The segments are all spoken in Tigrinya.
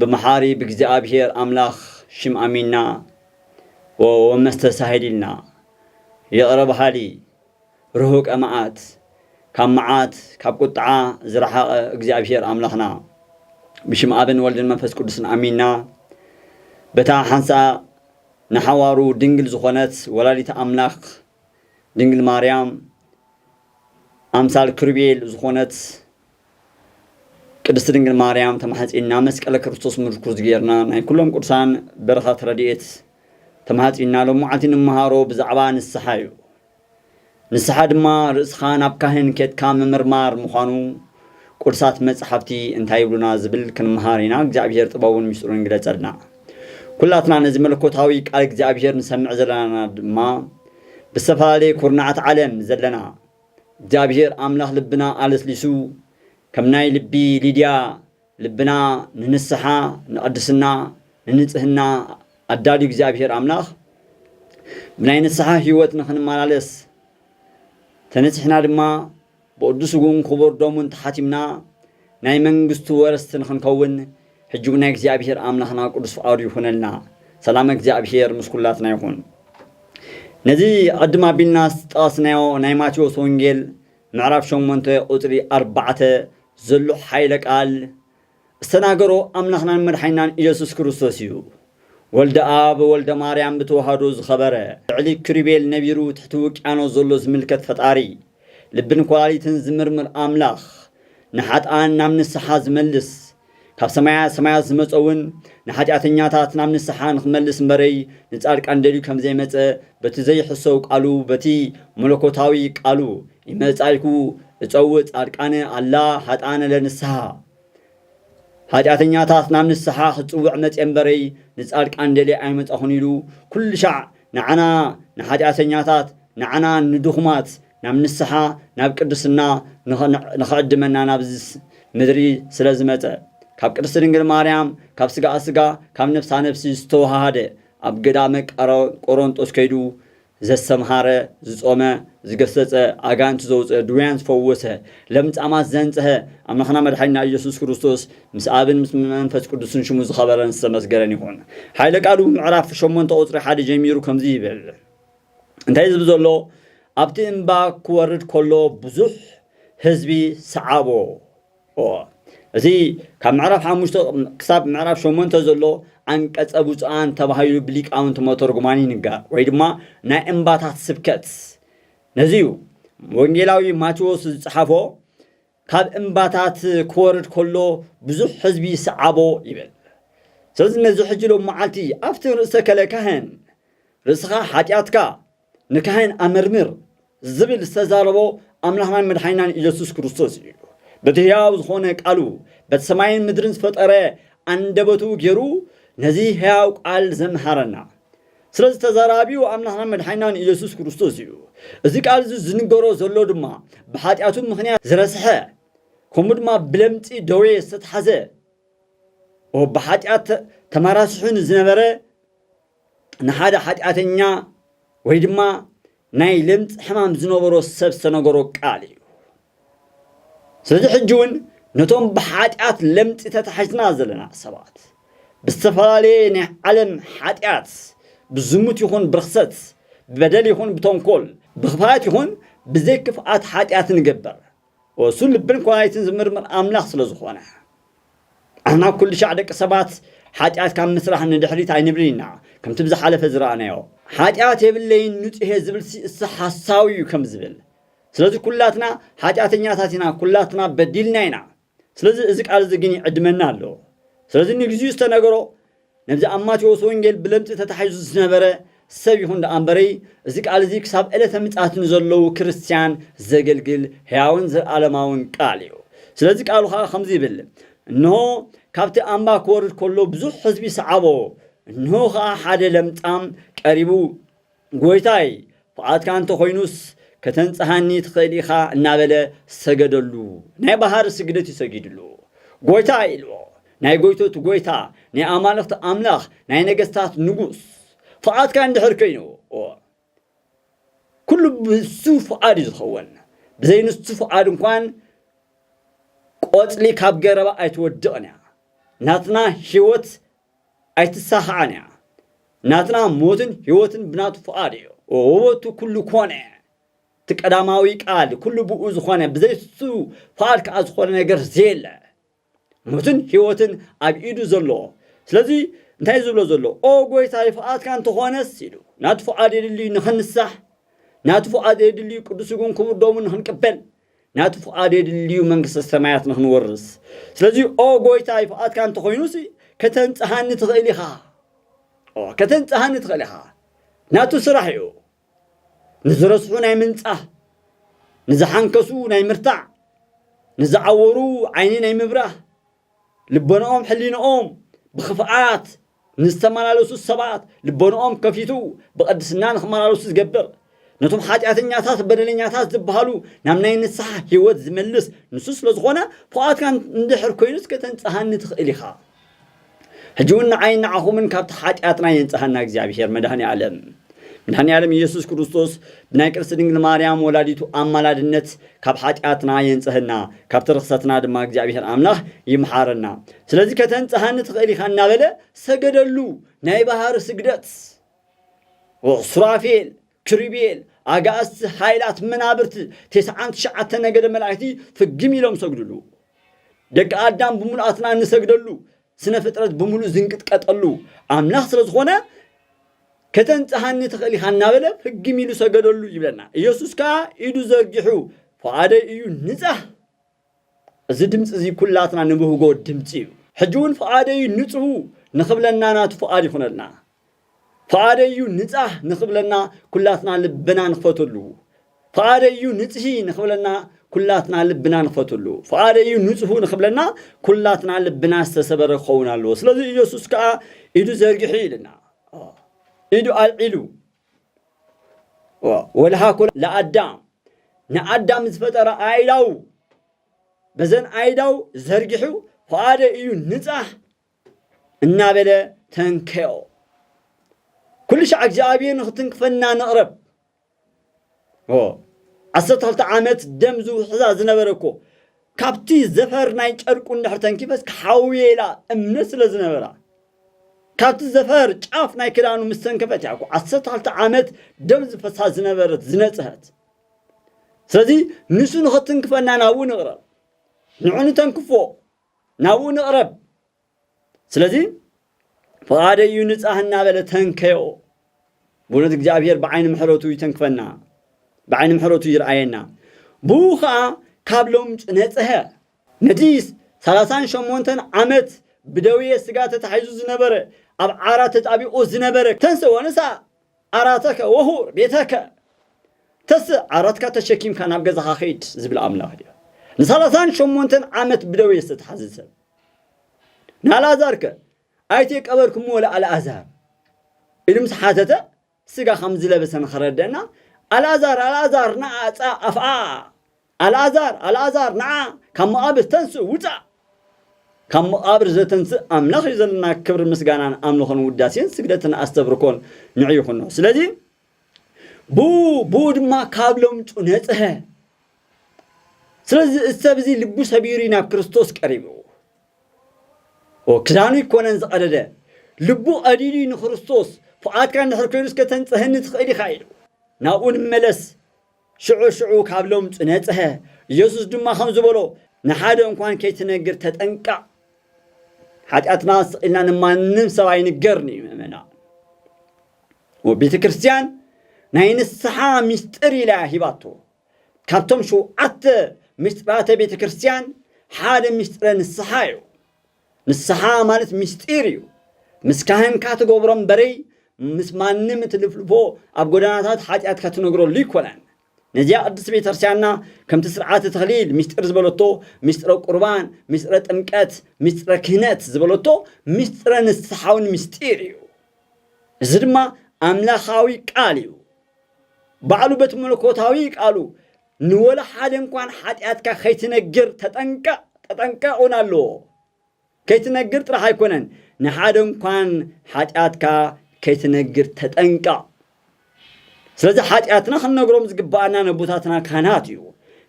ብመሓሪ ብእግዚኣብሔር ኣምላኽ ሽም ኣሚንና ወወመስተሳሂሊልና ይቕረ በሃሊ ርሁቀ መዓት ካብ መዓት ካብ ቁጥዓ ዝረሓቐ እግዚኣብሔር ኣምላኽና ብሽም ኣብን ወልድን መንፈስ ቅዱስን ኣሚንና በታ ሓንሳእ ንሓዋሩ ድንግል ዝኾነት ወላዲት ኣምላኽ ድንግል ማርያም ኣምሳል ክሩቤል ዝኾነት ቅድስት ድንግል ማርያም ተማሕጺና መስቀለ ክርስቶስ ምርኩዝ ጌርና ናይ ኩሎም ቅዱሳን በረኸት ረድኤት ተማሕጺና ሎም መዓልቲ ንመሃሮ ብዛዕባ ንስሓ እዩ ንስሓ ድማ ርእስኻ ናብ ካህን ኬትካ ምምርማር ምዃኑ ቅዱሳት መጻሕፍቲ እንታይ ይብሉና ዝብል ክንመሃር ኢና እግዚኣብሔር ጥበቡን ምስጢሩን ይግለጸልና ኩላትና ነዚ መለኮታዊ ቃል እግዚኣብሔር ንሰምዕ ዘለና ድማ ብዝተፈላለየ ኩርናዓት ዓለም ዘለና እግዚኣብሔር ኣምላኽ ልብና ኣለስሊሱ ከም ናይ ልቢ ሊድያ ልብና ንንስሓ ንቅድስና ንንጽህና ኣዳልዩ እግዚኣብሔር ኣምላኽ ብናይ ንስሓ ሕይወት ንኽንመላለስ ተነጺሕና ድማ ብቅዱስ ስግኡን ክቡር ደሙን ተሓቲምና ናይ መንግስቱ ወረስቲ ንኽንከውን ሕጂ ውን ናይ እግዚኣብሄር ኣምላኽና ቅዱስ ፍቃዱ ይኹነልና ሰላመ እግዚኣብሄር ምስ ኩላትና ይኹን። ነዚ ቅድም ኣቢልና ዝጠቀስናዮ ናይ ማቴዎስ ወንጌል ምዕራፍ ሸሞንተ ቁጽሪ ኣርባዕተ ዘሎ ሓይለ ቃል ዝተናገሮ ኣምላኽናን መድሓኒናን ኢየሱስ ክርስቶስ እዩ። ወልደ ኣብ ወልደ ማርያም ብተዋህዶ ዝኸበረ ልዕሊ ክሩቤል ነቢሩ ትሕቲ ውቅያኖስ ዘሎ ዝምልከት ፈጣሪ ልብን ኰላሊትን ዚምርምር ኣምላኽ፣ ንሓጥኣን ናብ ንስሓ ዚመልስ፣ ካብ ሰማያ ሰማያት ዝመጸ'ውን ንሓጢኣተኛታት ናብ ንስሓ ንኺመልስ እምበረይ ንጻድቃን ደልዩ ከም ዘይመጸ በቲ ዘይሕሰው ቃሉ በቲ መለኮታዊ ቃሉ፣ ኢመጻእኩ እጸውእ ጻድቃነ ኣላ ኃጥኣነ ለንስሓ፣ ሓጢኣተኛታት ናብ ንስሓ ክጽውዕ መጼ እምበረይ ንጻድቃን ደልየ ኣይመጻኹን ኢሉ ኩሉሻዕ ንዓና ንሓጢኣተኛታት ንዓና ንድኹማት ናብ ንስሓ ናብ ቅድስና ንኽዕድመና ናብዚ ምድሪ ስለ ዝመጸ ካብ ቅድስቲ ድንግል ማርያም ካብ ስጋኣ ስጋ ካብ ነፍሳ ነፍሲ ዝተወሃሃደ ኣብ ገዳመ ቆሮንጦስ ከይዱ ዘስተምሃረ፣ ዝጾመ፣ ዝገሰጸ፣ ኣጋንንቲ ዘውጽአ፣ ድውያን ዝፈወሰ፣ ለምጻማት ዘንጽሀ፣ ኣምላኽና መድሓኒና ኢየሱስ ክርስቶስ ምስ ኣብን ምስ መንፈስ ቅዱስን ሽሙ ዝኸበረን ዝተመስገነን ይኹን። ሓይለ ቃሉ ብምዕራፍ ሸሞንተ ቁጽሪ ሓደ ጀሚሩ ከምዚ ይብል እንታይ ዝብ ዘሎ ኣብቲ እምባ ክወርድ ከሎ ብዙሕ ህዝቢ ሰዓቦ እዚ ካብ ምዕራፍ ሓሙሽተ ክሳብ ምዕራፍ ሸሞንተ ዘሎ ኣንቀጸ ብፁዓን ተባሂሉ ብሊቃውንቲ መተርጉማን ይንገር ወይ ድማ ናይ እምባታት ስብከት ነዚ እዩ ወንጌላዊ ማቴዎስ ዝጸሓፎ ካብ እምባታት ክወርድ ከሎ ብዙሕ ሕዝቢ ይስዓቦ ይብል ስለዚ ነዚ ሕጂ ሎም መዓልቲ ኣብቲ ርእሰ ከለ ካህን ርእስኻ ሓጢኣትካ ንካህን ኣመርምር ዝብል ዝተዛረቦ ኣምላኽናን መድሓኒናን ኢየሱስ ክርስቶስ እዩ። በቲ ሕያው ዝኾነ ቃሉ በቲ ሰማይን ምድርን ዝፈጠረ ኣንደበቱ ገይሩ ነዚ ሕያው ቃል ዘምሃረና ስለዚ ተዛራቢኡ ኣምላኽናን መድሓኒናን ኢየሱስ ክርስቶስ እዩ። እዚ ቃል እዚ ዝንገሮ ዘሎ ድማ ብሓጢኣቱ ምኽንያት ዝረስሐ ከምኡ ድማ ብለምፂ ደዌ ዝተትሓዘ ብሓጢኣት ተመራስሑ ንዝነበረ ንሓደ ሓጢኣተኛ ወይ ድማ ናይ ለምጽ ሕማም ዝነበሮ ሰብ ዝተነገሮ ቃል እዩ። ስለዚ ሕጂ እውን ነቶም ብሓጢኣት ለምጺ ተታሒዝና ዘለና ሰባት ብዝተፈላለየ ናይ ዓለም ሓጢኣት ብዝሙት ይኹን ብርኽሰት ብበደል ይኹን ብተንኮል ብኽፋት ይኹን ብዘይክፍኣት ሓጢኣት ንገበር እሱ ልብን ኵላሊትን ዝምርምር ኣምላኽ ስለ ዝዀነ። ኣሕና ኵልሻዕ ደቂ ሰባት ሓጢኣት ካብ ምስራሕ ንድሕሪት ኣይንብልን ኢና። ከምቲ ብዝሓለፈ ዝረኣናዮ፣ ሓጢኣት የብለይን ንጹህ'የ ዝብል ሲእሲ ሓሳዊ'ዩ ከም ዝብል። ስለዚ ኵላትና ሓጢኣተኛታት ኢና፣ ኵላትና በዲልና ኢና። ስለዚ እዚ ቃል'ዚ ግን ይዕድመና ኣሎ። ስለዚ ንግዚኡ ዝተነገሮ፣ ነዚ ኣብ ማቴዎስ ወንጌል ብለምጺ ተታሒዙ ዝነበረ ሰብ ይኹን ደኣ እምበረይ፣ እዚ ቃል እዚ ክሳብ ዕለተ ምጽኣት ንዘለዉ ክርስትያን ዘገልግል ሕያውን ዘለኣለማውን ቃል እዩ። ስለዚ ቃሉ ኸኣ ከምዚ ይብል፣ እንሆ፣ ካብቲ ኣምባ ክወርድ ከሎ ብዙሕ ህዝቢ ሰዓቦ፣ እንሆ ኸኣ ሓደ ለምጻም ቀሪቡ፣ ጐይታይ፣ ኰዓትካ እንተ ዀይኑስ፣ ከተንጽሃኒ ትኽእል ኢኻ እናበለ ሰገደሉ። ናይ ባህሪ ስግደት እዩ ሰጊድሉ። ጐይታይ ኢልዎ። ናይ ጐይቶት ጐይታ፣ ናይ ኣማልኽቲ ኣምላኽ፣ ናይ ነገስታት ንጉስ፣ ፍቓድካ እንድሕር ኰይኑ፣ እወ፣ ኵሉ ብእሱ ፍቓድ እዩ ዝኸውን። ብዘይ ንሱ ፍቓድ እንኳን ቈጽሊ ካብ ገረባ ኣይትወድቕን እያ። ናትና ህይወት ኣይትሳኻዕን እያ ናትና ሞትን ሕይወትን ብናቱ ፍቓድ እዩ ወበቱ ኩሉ ኮነ እቲ ቀዳማዊ ቃል ኩሉ ብኡ ዝኾነ ብዘይሱ ፍቓድ ከዓ ዝኾነ ነገር ዘየለ ሞትን ሕይወትን ኣብ ኢዱ ዘሎ ስለዚ እንታይ ዝብሎ ዘሎ ኦ ጎይታ ይፍቓድካ እንተኾነስ ኢሉ ናቱ ፍቓድ የድልዩ ንኽንሳሕ ናቱ ፍቓድ የድልዩ ቅዱስ ጉን ክቡር ደሙ ንኽንቅበል ናቱ ፍቓድ የድልዩ መንግስተ ሰማያት ንኽንወርስ። ስለዚ ኦ ጎይታይ ፍቓድካ እንተኾይኑሲ ከተንጽሃኒ ትኽእል ኢኻ። ኦ ከተንጽሃኒ ትኽእል ኢኻ። ናቱ ስራሕ እዩ። ንዝረስሑ ናይ ምንጻህ፣ ንዝሓንከሱ ናይ ምርታዕ፣ ንዝዓወሩ ዓይኒ ናይ ምብራህ፣ ልቦንኦም ሕሊንኦም ብኽፍኣት ንዝተመላለሱ ሰባት ልቦንኦም ከፊቱ ብቕድስና ንኽመላለሱ ዝገብር ነቶም ሓጢኣተኛታት በደለኛታት ዝበሃሉ ናብ ናይ ንስሓ ህይወት ዝመልስ ንሱ ስለ ዝኾነ ፉኣትካ እንድሕር ኮይኑስ ከተንጽሃኒ ትኽእል ኢኻ ሕጂ እውን ንዓይን ንዓኹምን ካብቲ ሓጢኣትና የንጽሃና እግዚኣብሄር መድሃኒ ኣለም መድሃኒ ኣለም ኢየሱስ ክርስቶስ ብናይ ቅድስቲ ድንግል ማርያም ወላዲቱ ኣማላድነት ካብ ሓጢኣትና የንጽሀና፣ ካብቲ ርኽሰትና ድማ እግዚኣብሄር ኣምላኽ ይምሓረና። ስለዚ ከተንጽሃኒ ትኽእል ኢኻ እናበለ ሰገደሉ። ናይ ባህሪ ስግደት። ኦ ሱራፌል፣ ክሩቤል፣ ኣጋእዝቲ፣ ሓይላት መናብርቲ፣ ቴስዓን ትሽዓተ ነገደ መላእክቲ ፍግም ኢሎም ሰግዱሉ። ደቂ ኣዳም ብምሉኣትና እንሰግደሉ ስነ ፍጥረት ብምሉእ ዝንቅጥቀጠሉ ኣምላኽ ስለ ዝኾነ ከተንጽሃኒ ትኽእል ኢኻ እናበለ ፍግም ኢሉ ሰገደሉ ይብለና ኢየሱስ ከዓ ኢዱ ዘርጊሑ ፍቓደይ እዩ ንጻህ እዚ ድምፂ እዚ ኩላትና ንብህጎ ድምፂ እዩ ሕጂ እውን ፍቓደይ ንጽሁ ንኽብለና ናቱ ፍቓድ ይኹነልና ፍቓደይ እዩ ንጻህ ንኽብለና ኩላትና ልብና ንኽፈትሉ ፍቓደይ እዩ ንጽሂ ንኽብለና ኩላትና ልብና ንኽፈትሉ ፍቓደይ እዩ ንጽሁ ንኽብለና ኩላትና ልብና ዝተሰበረ ክኸውን ኣለዎ ስለዚ ኢየሱስ ከዓ ኢዱ ዘርግሒ ኢልና ኢዱ ኣልዒሉ ወልሃኮ ለኣዳም ንኣዳም ዝፈጠረ ኣይዳው በዘን ኣይዳው ዘርጊሑ ፍቓደ እዩ ንጻህ እናበለ ተንከዮ። ኩሉ ሻዕ እግዚኣብሔር ንክትንክፈና ንቕረብ። ዓሰርተ ክልተ ዓመት ደም ዝውሕዛ ዝነበረ እኮ ካብቲ ዘፈር ናይ ጨርቁ እንድሕር ተንኪፈስ ክሓውየ ኢላ እምነት ስለ ዝነበራ ካብቲ ዘፈር ጫፍ ናይ ክዳኑ ምስ ተንከፈት እያ እኮ ዓሰርተ ክልተ ዓመት ደም ዝፈሳ ዝነበረት ዝነፅሀት ስለዚ ንሱ ንኸትንክፈና ናብኡ ንቕረብ ንዑ ንተንክፎ ናብኡ ንቕረብ። ስለዚ ፍቓደይ እዩ ንጻህ እናበለ ተንከዮ። ብእውነት እግዚኣብሔር ብዓይኒ ምሕረቱ ይተንክፈና፣ ብዓይኒ ምሕረቱ ይርኣየና። ብኡ ኸኣ ካብ ሎምጭ ነጽሀ። ነቲ ሰላሳን ሸሞንተን ዓመት ብደዌ ሥጋ ተታሒዙ ዝነበረ፣ ኣብ ዓራት ተጣቢቑ ዝነበረ ተንሥኦ ነሣ። ዓራተከ ወሑር ቤተከ ተስእ ዓራትካ ተሸኪምካ ናብ ገዛኻ ኺድ ዝብል ኣምላኽ ድዩ? ንሳላሳን ሸሞንተን ዓመት ብደዌ ዝተትሓዘ ሰብ ንኣልኣዛርከ ኣይተቀበርክምዎ ለኣልኣዛር ኢሉ ምስ ሓተተ ስጋ ከም ዝለበሰ ንኸረደእና ኣልኣዛር ኣልኣዛር ንኣ ጻእ ኣፍኣ ኣልኣዛር! ኣልኣዛር! ንዓ ካብ መቓብር ተንስእ! ውጻእ! ካብ መቓብር ዘተንስእ ኣምላኽ እዩ ዘለና ክብርን ምስጋናን ኣምልኾን ውዳሴን ስግደትን ኣስተብርኮን ንዑ ይኹኖ ስለዚ ብኡ ብኡ ድማ ካብ ለምጹ ነጽሀ ስለዚ እዚ ሰብ እዚ ልቡ ሰቢሩ እዩ ናብ ክርስቶስ ቀሪቡ ክዳኑ ይኮነን ዝቐደደ ልቡ ቀዲዱ ንክርስቶስ ፍቓድካ እንድሕር ኮይኑ እስከ ተንጽሀኒ ትኽእል ኢኻ ኢሉ ናብኡ ንመለስ ሽዑ ሽዑ ካብ ለምጹ ነጽሀ። ኢየሱስ ድማ ከምዚ በሎ፣ ንሓደ እንኳን ከይትነግር ተጠንቀቕ። ሓጢኣትና ስቕ ኢልና ንማንም ሰብ ኣይንገርን እዩ ምእመና። ቤተ ክርስቲያን ናይ ንስሓ ምስጢር ኢላ እያ ሂባቶ። ካብቶም ሸውዓተ ምስጢራተ ቤተ ክርስቲያን ሓደ ምስጢረ ንስሓ እዩ። ንስሓ ማለት ምስጢር እዩ። ምስ ካህንካ ትገብሮ እምበረይ ምስ ማንም እትልፍልፎ ኣብ ጎዳናታት ሓጢኣትካ ትነግረሉ ኣይኮነን። ነዚኣ ቅድስቲ ቤተክርስቲያንና ከምቲ ስርዓተ ተክሊል ምስጢር ዝበለቶ ምስጢረ ቁርባን፣ ምስጢረ ጥምቀት፣ ምስጢረ ክህነት ዝበለቶ ምስጢረ ንስሓ እውን ምስጢር እዩ። እዚ ድማ ኣምላኻዊ ቃል እዩ። ባዕሉ በቲ መለኮታዊ ቃሉ ንወላ ሓደ እንኳን ሓጢኣትካ ከይትነግር ተጠንቀቕ ተጠንቀቕ እውን ኣለዎ። ከይትነግር ጥራሕ ኣይኮነን ንሓደ እንኳን ሓጢኣትካ ከይትነግር ተጠንቀቕ። ስለዚ ሓጢኣትና ክንነግሮም ዝግባኣና ነቦታትና ካህናት እዩ።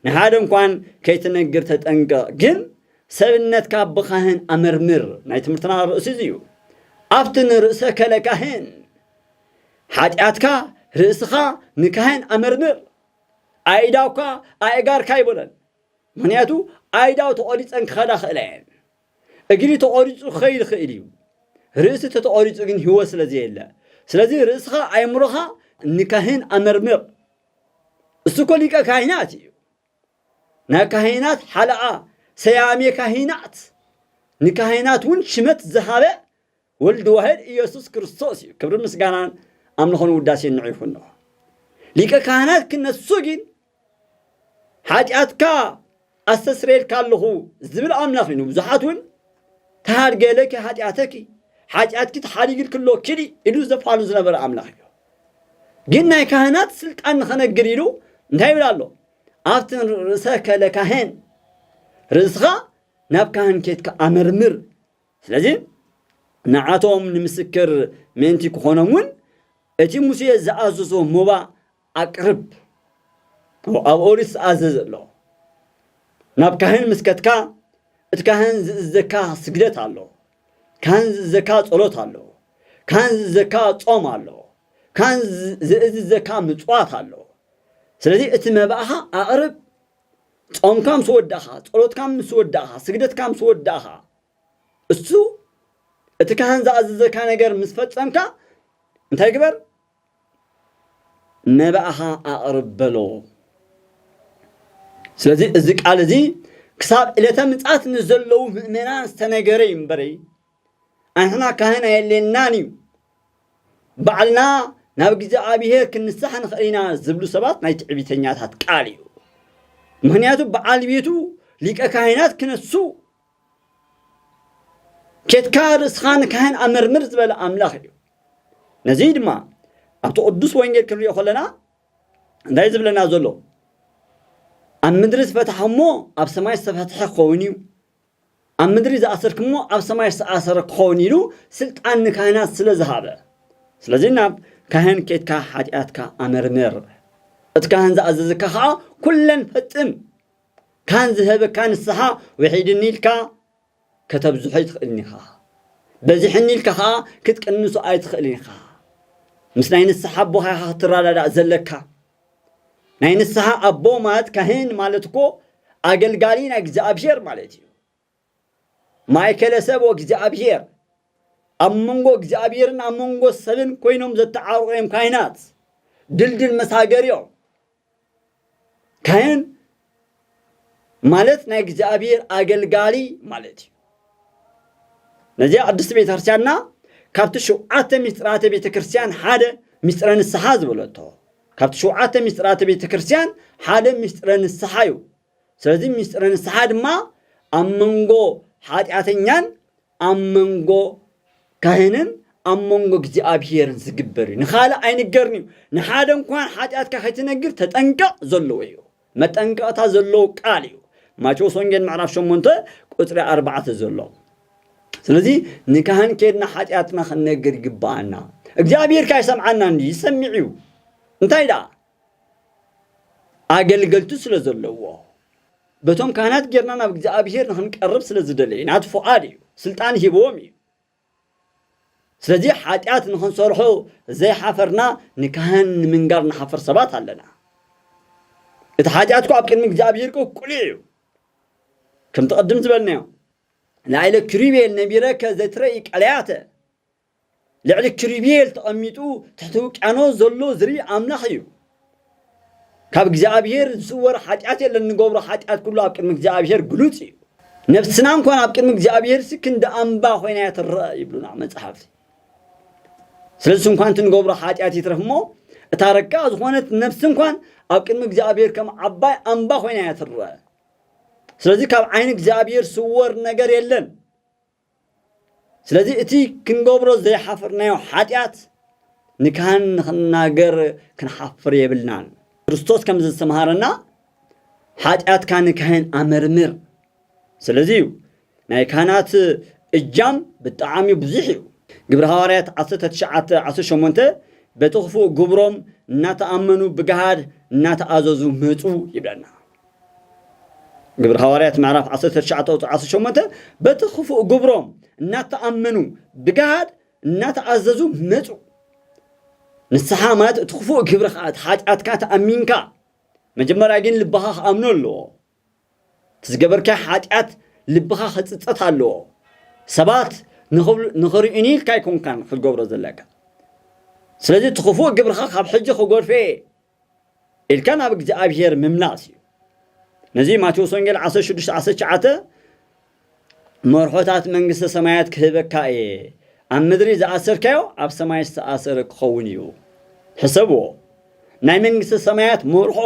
ንሓደ እንኳን ከይትነግር ተጠንቀቕ ግን ሰብነትካ ብካህን ኣመርምር ናይ ትምህርትና ርእሲ እዚ እዩ። ኣብቲ ንርእሰ ከለ ካህን ሓጢኣትካ ርእስኻ ንካህን ኣመርምር ኣይዳውካ ኣእጋርካ ኣይበሎን ምክንያቱ ኣይዳው ተቆሪፀን ክኸዳ ክእላ እየን እግሪ ተቆሪፁ ክኸይድ ይኽእል እዩ ርእሲ ተተቆሪፁ ግን ህይወት ስለዘየለ ስለዚ ርእስኻ ኣእምሮኻ ንካህን ኣመርምር እሱ እኮ ሊቀ ካህናት እዩ ናይ ካህናት ሓለቓ ሰያሜ ካህናት ንካህናት እውን ሽመት ዝሃበ ወልድ ዋሕድ ኢየሱስ ክርስቶስ እዩ ክብርን ምስጋናን ኣምልኾን ውዳሴን ንዑ ይኹኖ ሊቀ ካህናት ክነሱ ግን ሓጢኣትካ ኣስተስረየልካ ኣለኹ ዝብል ኣምላኽ እዩ ንብዙሓት እውን ተሃድገለኪ ሓጢኣተኪ ሓጢኣትኪ ተሓዲግልኪ ኣሎ ኪዲ ኢሉ ዘፋሉ ዝነበረ ኣምላኽ እዩ ግን ናይ ካህናት ስልጣን ንኸነግር ኢሉ እንታይ ይብል ኣሎ ኣብቲ ርእሰ ከለ ካህን ርእስኻ ናብ ካህን ኬትካ ኣመርምር ስለዚ ንዓቶም ንምስክር ምእንቲ ክኾኖም እውን እቲ ሙሴ ዝኣዘዞ ሞባ ኣቅርብ ኣብ ኦሪት ዝተኣዘዘ ኣሎ ናብ ካህን ምስ ከትካ እቲ ካህን ዝእዘካ ስግደት ኣሎ ካህን ዝእዘካ ጸሎት ኣሎ ካህን ዝእዘካ ጾም ኣሎ ካህን ዝእዝዘካ ምጽዋት ኣሎ ስለዚ እቲ መባእኻ ኣቕርብ ጾምካ ምስ ወዳእኻ ጸሎትካ ምስ ወዳእኻ ስግደትካ ምስ ወዳእኻ እሱ እቲ ካህን ዝኣዘዘካ ነገር ምስ ፈጸምካ እንታይ ግበር? መባእኻ ኣቕርብ በሎ። ስለዚ እዚ ቃል እዚ ክሳብ ዕለተ ምጽኣት ንዘለዉ ምእመናን ዝተነገረ እዩ እምበረይ ኣንሕና ካህን ኣየድልየናን እዩ ባዕልና ናብ እግዚኣብሔር ክንሳሕ ንኽእል ኢና ዝብሉ ሰባት ናይ ትዕቢተኛታት ቃል እዩ ምክንያቱ በዓል ቤቱ ሊቀ ካህናት ክነሱ ኬድካ ርእስኻ ንካህን ኣመርምር ዝበለ ኣምላኽ እዩ። ነዚ ድማ ኣብቲ ቅዱስ ወንጌል ክንሪኦ ከለና እንታይ ዝብለና ዘሎ ኣብ ምድሪ ዝፈታሕሞ ኣብ ሰማይ ዝተፈትሐ ክኸውን እዩ ኣብ ምድሪ ዝኣሰርክሞ ኣብ ሰማይ ዝተኣሰረ ክኸውን ኢሉ ስልጣን ንካህናት ስለ ዝሃበ ስለዚ ናብ ካህን ኬትካ ሓጢኣትካ ኣመርምር እቲ ካህን ዝኣዘዘካ ከዓ ኩለን ፈፅም ካን ዝሀበካ ንስሓ ውሒድኒ ኢልካ ከተብዝሖ ኣይትኽእልን ኢኻ። በዚሕኒ ኢልካ ከኣ ክትቅንሶ ኣይትኽእልን ኢኻ። ምስ ናይ ንስሓ ኣቦኻ ኢኻ ክትረዳዳእ ዘለካ። ናይ ንስሓ ኣቦ ማለት ካህን ማለት እኮ ኣገልጋሊ ናይ እግዚኣብሄር ማለት እዩ። ማእከለ ሰብ ወእግዚኣብሔር ኣብ መንጎ እግዚኣብሔርን ኣብ መንጎ ሰብን ኮይኖም ዘተዓርቑ እዮም ካህናት ድልድል መሳገር እዮም ካህን ማለት ናይ እግዚኣብሔር ኣገልጋሊ ማለት እዩ ነዚኣ ቅድስቲ ቤተ ክርስቲያንና ካብቲ ሸውዓተ ሚስጥራተ ቤተ ክርስቲያን ሓደ ሚስጥረ ንስሓ ዝበለቶ ካብቲ ሸውዓተ ሚስጥራተ ቤተ ክርስቲያን ሓደ ሚስጥረ ንስሓ እዩ ስለዚ ምስጢረ ንስሓ ድማ ኣብ መንጎ ሓጢኣተኛን ኣብ መንጎ ካህንን ኣብ መንጎ እግዚኣብሄርን ዝግበር እዩ ንኻልእ ኣይንገርን እዩ ንሓደ እንኳን ሓጢኣትካ ከይትነግር ተጠንቀቕ ዘለዎ እዩ መጠንቀቕታ ዘለዎ ቃል እዩ ማቴዎስ ወንጌል ምዕራፍ 8 ቁፅሪ 4 ዘሎ ስለዚ ንካህን ኬድና ሓጢኣትና ክንነግር ይግባኣና እግዚኣብሄር ካይሰምዓና እንዲ ይሰምዕ እዩ እንታይ ደኣ ኣገልገልቱ ስለ ዘለዎ በቶም ካህናት ጌርና ናብ እግዚኣብሄር ንኽንቀርብ ስለ ዝደለየ ናቱ ፍቓድ እዩ ስልጣን ሂብዎም እዩ ስለዚ ሓጢኣት ንኽንሰርሖ ዘይሓፈርና ንካህን ንምንጋር ንሓፍር ሰባት ኣለና እቲ ሓጢኣትኩ ኣብ ቅድሚ እግዚኣብሄር ኮ ቅሉዕ እዩ ከምቲ ቅድም ዝበልናዮ ላይለ ክሪቤል ነቢረከ ዘትረኢ ቀለያተ ልዕሊ ኪሩቤል ተቐሚጡ ትሕቲ ውቅያኖስ ዘሎ ዝርኢ ኣምላኽ እዩ። ካብ እግዚኣብሔር ዝስወር ሓጢኣት የለን፣ ንገብሮ ሓጢኣት ኩሉ ኣብ ቅድሚ እግዚኣብሔር ግሉጽ እዩ። ነፍስና እንኳን ኣብ ቅድሚ እግዚኣብሔርሲ ክንዲ ኣምባ ኮይና እያ ትረኣ ይብሉና መጽሓፍቲ። ስለዚ እንኳን እቲ ንገብሮ ሓጢኣት ይትረፍ እሞ እታ ረቃ ዝኾነት ነፍሲ እንኳን ኣብ ቅድሚ እግዚኣብሔር ከም ዓባይ ኣምባ ኮይና እያ ትረኣ። ስለዚ ካብ ዓይኒ እግዚኣብሔር ስወር ነገር የለን። ስለዚ እቲ ክንገብሮ ዘይሓፈርናዮ ሓጢኣት ንካህን ንኽንናገር ክንሓፍር የብልናን። ክርስቶስ ከም ዘስተምሃረና ሓጢኣትካ ንካህን ኣመርምር። ስለዚ እዩ ናይ ካህናት እጃም ብጣዕሚ ብዙሕ እዩ። ግብሪ ሃዋርያት ዓሰርተ ትሽዓተ ዓሰርተ ሸሞንተ በቲ ክፉእ ግብሮም እናተኣመኑ ብገሃድ እናተኣዘዙ መፁ ይብለና። ግብሪ ሃዋርያት ምዕራፍ 19 ቁፅሪ 18 በቲ ክፉእ ግብሮም እናተኣመኑ ብግሃድ እናተኣዘዙ መፁ ንስሓ ማለት እቲ ክፉእ ግብሪ ከዓ እቲ ሓጢኣትካ ተኣሚንካ መጀመርያ ግን ልብኻ ክኣምኖ ኣለዎ እቲ ዝገበርካ ሓጢኣት ልብኻ ክፅፀት ኣለዎ ሰባት ንኽርእዩኒ ኢልካ ኣይኮንካን ክትገብሮ ዘለካ ስለዚ እቲ ክፉእ ግብርኻ ካብ ሕጂ ክጎድፈ እየ ኢልካ ናብ እግዚኣብሄር ምምላስ እዩ ነዚ ማቴዎስ ወንጌል ዓሰርተ ሽዱሽተ ዓሰርተ ትሽዓተ መርሖታት መንግስተ ሰማያት ክህበካ እየ ኣብ ምድሪ ዝኣሰርካዮ ኣብ ሰማይ ዝተኣሰረ ክኸውን እዩ ሕሰብዎ ናይ መንግስተ ሰማያት መርሖ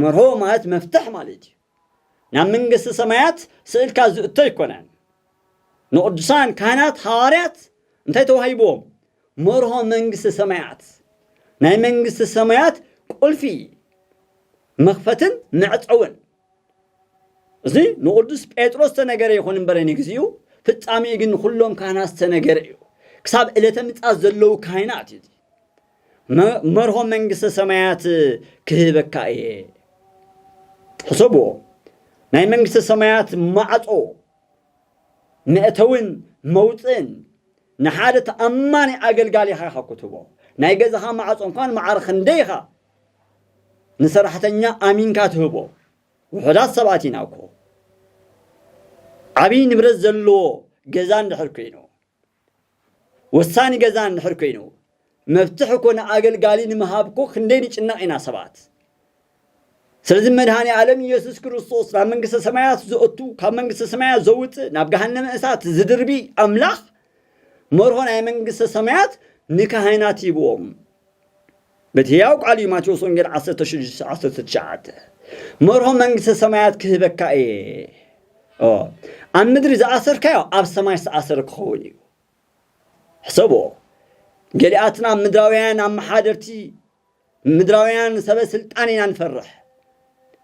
መርሆ ማለት መፍትሕ ማለት እዩ ናብ መንግስቲ ሰማያት ስእልካ ዝእቶ ኣይኮነን። ንቕዱሳን ካህናት ሃዋርያት እንታይ ተዋሂብዎም? መርሆ መንግስቲ ሰማያት። ናይ መንግስቲ ሰማያት ቁልፊ መኽፈትን መዕጸውን። እዚ ንቕዱስ ጴጥሮስ ዝተነገረ ይኹን እምበረ ንግዚኡ፣ ፍጻሜኡ ግን ንኹሎም ካህናት ዝተነገረ እዩ። ክሳብ ዕለተ ምጽኣት ዘለዉ ካህናት እዩ። መርሆ መንግስተ ሰማያት ክህበካ እየ ሕሰብዎ ናይ መንግስተ ሰማያት ማዕጾ መእተውን መውፅእን ንሓደ ተኣማኒ ኣገልጋሊ ኢኻ ኢኻ ክትህቦ ናይ ገዛኻ ማዕጾ እንኳን ማዕረ ክንደይ ኢኻ ንሰራሕተኛ ኣሚንካ ትህቦ ውሑዳት ሰባት ኢና እኮ ዓብዪ ንብረት ዘለዎ ገዛ እንድሕር ኮይኑ ወሳኒ ገዛ እንድሕር ኮይኑ መፍትሕ እኮ ንኣገልጋሊ ንምሃብ እኮ ክንደይ ንጭነቕ ኢና ሰባት ስለዚ መድሃኒ ኣለም ኢየሱስ ክርስቶስ ናብ መንግስተ ሰማያት ዘእቱ ካብ መንግስተ ሰማያት ዘውፅእ ናብ ገሃነመ እሳት ዝድርቢ ኣምላኽ መርሆ ናይ መንግስተ ሰማያት ንካህናት ይብዎም በቲ ህያው ቃል እዩ ማቴዎስ ወንጌል ዓሰርተ ሽዱሽተ ዓሰርተ ትሽዓተ መርሆ መንግስተ ሰማያት ክህበካ እየ ኦ ኣብ ምድሪ ዝኣሰርካዮ ኣብ ሰማይ ዝተኣሰረ ክኸውን እዩ ሕሰቦ ገሊኣትና ምድራውያን ኣመሓደርቲ ምድራውያን ሰበ ስልጣን ኢና ንፈርሕ